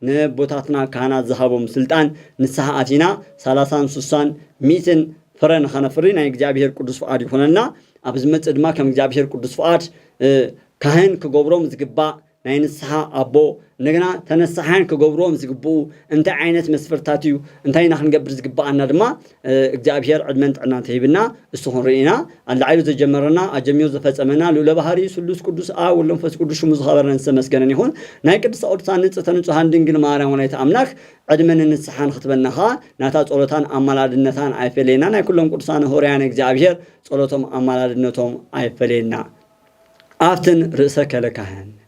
ነቦታትና ካህናት ዝሃቦም ስልጣን ንስሓ ኣቲና ሳላሳን ሱሳን ሚእትን ፍረ ንኸነፍሪ ናይ እግዚኣብሔር ቅዱስ ፍቓድ ይኹነልና። ኣብ ዝመጽእ ድማ ከም እግዚኣብሔር ቅዱስ ፍቓድ ካህን ክገብሮም ዝግባእ ናይ ንስሓ ኣቦ እንደገና ተነሳሓያን ክገብርዎም ዝግብኡ እንታይ ዓይነት መስፈርታት እዩ እንታይ ኢና ክንገብር ዝግብኣና ድማ እግዚኣብሔር ዕድመን ጥዕናን ተሂብና እሱ ክንርኢ ኢና ኣላዒሉ ዘጀመረና ኣጀሚሩ ዘፈጸመና ልኡለ ባህሪ ስሉስ ቅዱስ ኣ ወለንፈስ ቅዱስ ሽሙ ዝኸበረን ዝተመስገነን ይኹን ናይ ቅድስተ ቅዱሳን ንጽሕተ ንጹሃን ድንግል ማርያም ወላዲተ ኣምላክ ዕድመን ንስሓን ክትበና ኸኣ ናታ ጸሎታን ኣማላድነታን ኣይፈለየና ናይ ኩሎም ቅዱሳን ሆርያነ እግዚኣብሔር ጸሎቶም ኣማላድነቶም ኣይፈለየና ኣፍትን ርእሰ ከለካህን